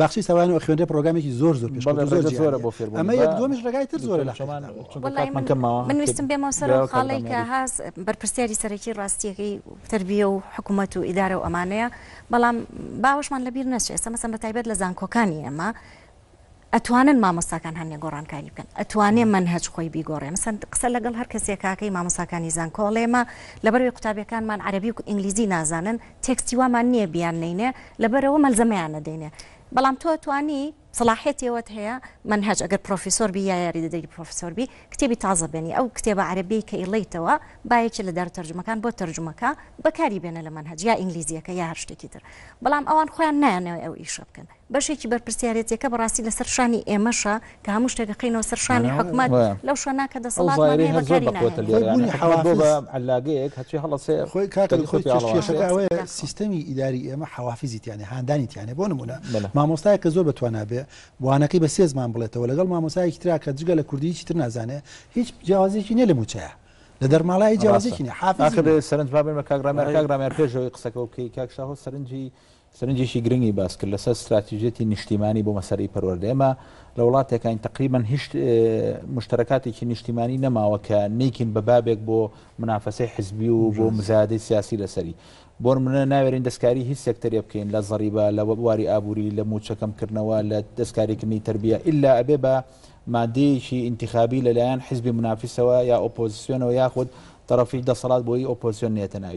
باخچەی سەوایان ئەخوێنرێ پڕۆگامێکی زۆر زۆر پێشکەوتوو زۆر بەڵێ ڕێگە زۆرە بۆ فێربوون ئەمە یەک دووەمیش ڕێگای تر زۆرە لە چۆمان حەقیقەتەوە چونکە وەڵایی کاتمان من کەم ماوە من ویستم بێمەوە سەر ئەو خاڵەی کە کردم هاز بەرپرسیاری سەرەکی ڕاستیەکەی تربیە و حکومەت و ئیدارە و ئەمانەیە بەڵام باوەشمان لەبیر نەچێ ئێستا مەسەن بە تایبەت لە زانکۆکانی ئێمە ئەتوانن مامۆستاکان هەنێ گۆڕانکاری بکەن ئەتوانێ منهج خۆی بیگۆڕێ مەسەن قسە لەگەڵ هەر کەسێکاکەی مامۆستاکانی زانکۆڵێمە لەبەروی قوتابیەکانمان عەربی و ئینگلیزی نازانن تێکستی وامان نییە بیان نەینێ لەبەرئەوە مەلزەمەیان نەدەینێ بەڵام تۆ توانی سەڵاحیەتی ئەوەت هەیە مەنهەج ئەگەر پڕۆفیسۆر بی یا یاریدەدەری پڕۆفیسۆر بی کتێبی تازە بێنی ئەو کتێبە عەرەبیەی کە ئیڵێیتەوە با یەکێ لە دارو تەرجومەکان بۆ تەرجومە کا بەکاری بێنە لە مەنهەج یا ئینگلیزیەکە یا هەر شتێکی تر بەڵام ئەوان خۆیان نایانەوێ ئەو ئیشە بکەن بەشێکی بەرپرسیارێتیەکە بەڕاستی لەسەر شانی ئێمەشە کە هەموو شتێک ئەخەینەوە سەر شانی حکومەت لەو شوێنە کە دەسەڵاتمان هەیە بەکاری ناهێنین سیستەمی ئیداری ئێمە حەوافیزی تیانێ هاندانی تیانێ بۆ نمونە مامۆستایە کە زۆر بەتوانا بێ وانەکەی بە سێ زمان بڵێتەوە لەگەڵ مامۆسایەکی ترا کە جگە لە کوردی چیتر نازانێ هیچ جیاوازێکی نیە لە موچەیە لە دەرماڵای جیاوازێکی حافظ سەرنج بابێمە کاگرامەکەگرامە پێشەوەی قسەکە و کەی کاکشاهۆ سەرنجی سەرنجێکی گرنگی باس کرد لەسەر ستراتیژیەتی نیشتیمانی بۆ مەسەلەی پەروەردە ئێمە لە وڵاتێکین تقریبان هیچ مشتەکاتێکی نیشتیمانی نەماوە کە نیکین بە بابێک بۆ منافەسەی حزبی و بۆ مزادی سیاسی لەسەری بۆن منە ناوێرین دەستکاری هیچ سێکتەرێ بکەین لە زەریبە لە وەبواری ئابووری لە موچەکەمکردنەوە لە دەستکاریکردنی تربیە ئللا ئەبێ بە مادەیەکی ئینتخابی لەلایەن حزبی منافیسەوە یا ئۆپۆزیسیۆنەوە یاخود طرفی دەسەڵات بۆی ئۆپۆزیۆن نێتە ناوی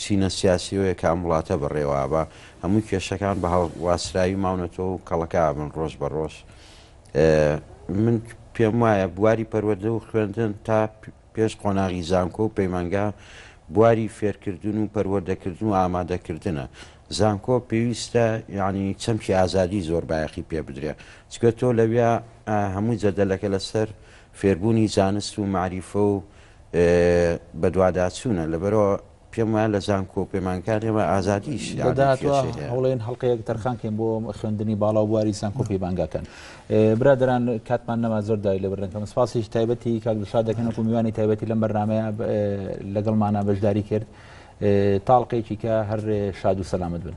چینە سیاسیەوەیە کە ئەم وڵاتە بەڕێوابا هەموو کێشەکان بە هەڵواسراوی ماونەتەوە و کەڵەکە ئەبن ڕۆژ بە ڕۆژ من پێم وایە بواری پەروەدە و خوێندن تا پێش قۆناغی زانکۆ و پەیمانگا بواری فێرکردن و پەروەردەکردن و ئامادەکردنە زانکۆ پێویستە یعنی چەمکی ئازادی زۆر بایەخی پێ بدرێ چکە تۆ لەویا هەموو جەدەلەکە لەسەر فێربوونی زانست و مەعریفە و بەدواداچوونە، لەبەرئەوە پێم وایە لە زانکۆ و پەیمانگەکانی ئێمە ئازادیی شیعرێکی لە سێ هەیە. لە داهاتووە هەوڵێن هەڵقەیەک تەرخان کەین بۆ خوێندنی باڵا و بواری زانکۆ و پەیمانگاکان. برادەران کاتمان نەما زۆر داوای لێ بردن کەم. سپاسێکی تایبەتی کاک دڵشاد دەکەین وەکوو میوانی تایبەتی لەم بەرنامەیە لەگەڵمانا بەشداری کرد. تاڵقێکی کە هەر شاد و سەلامەت بن.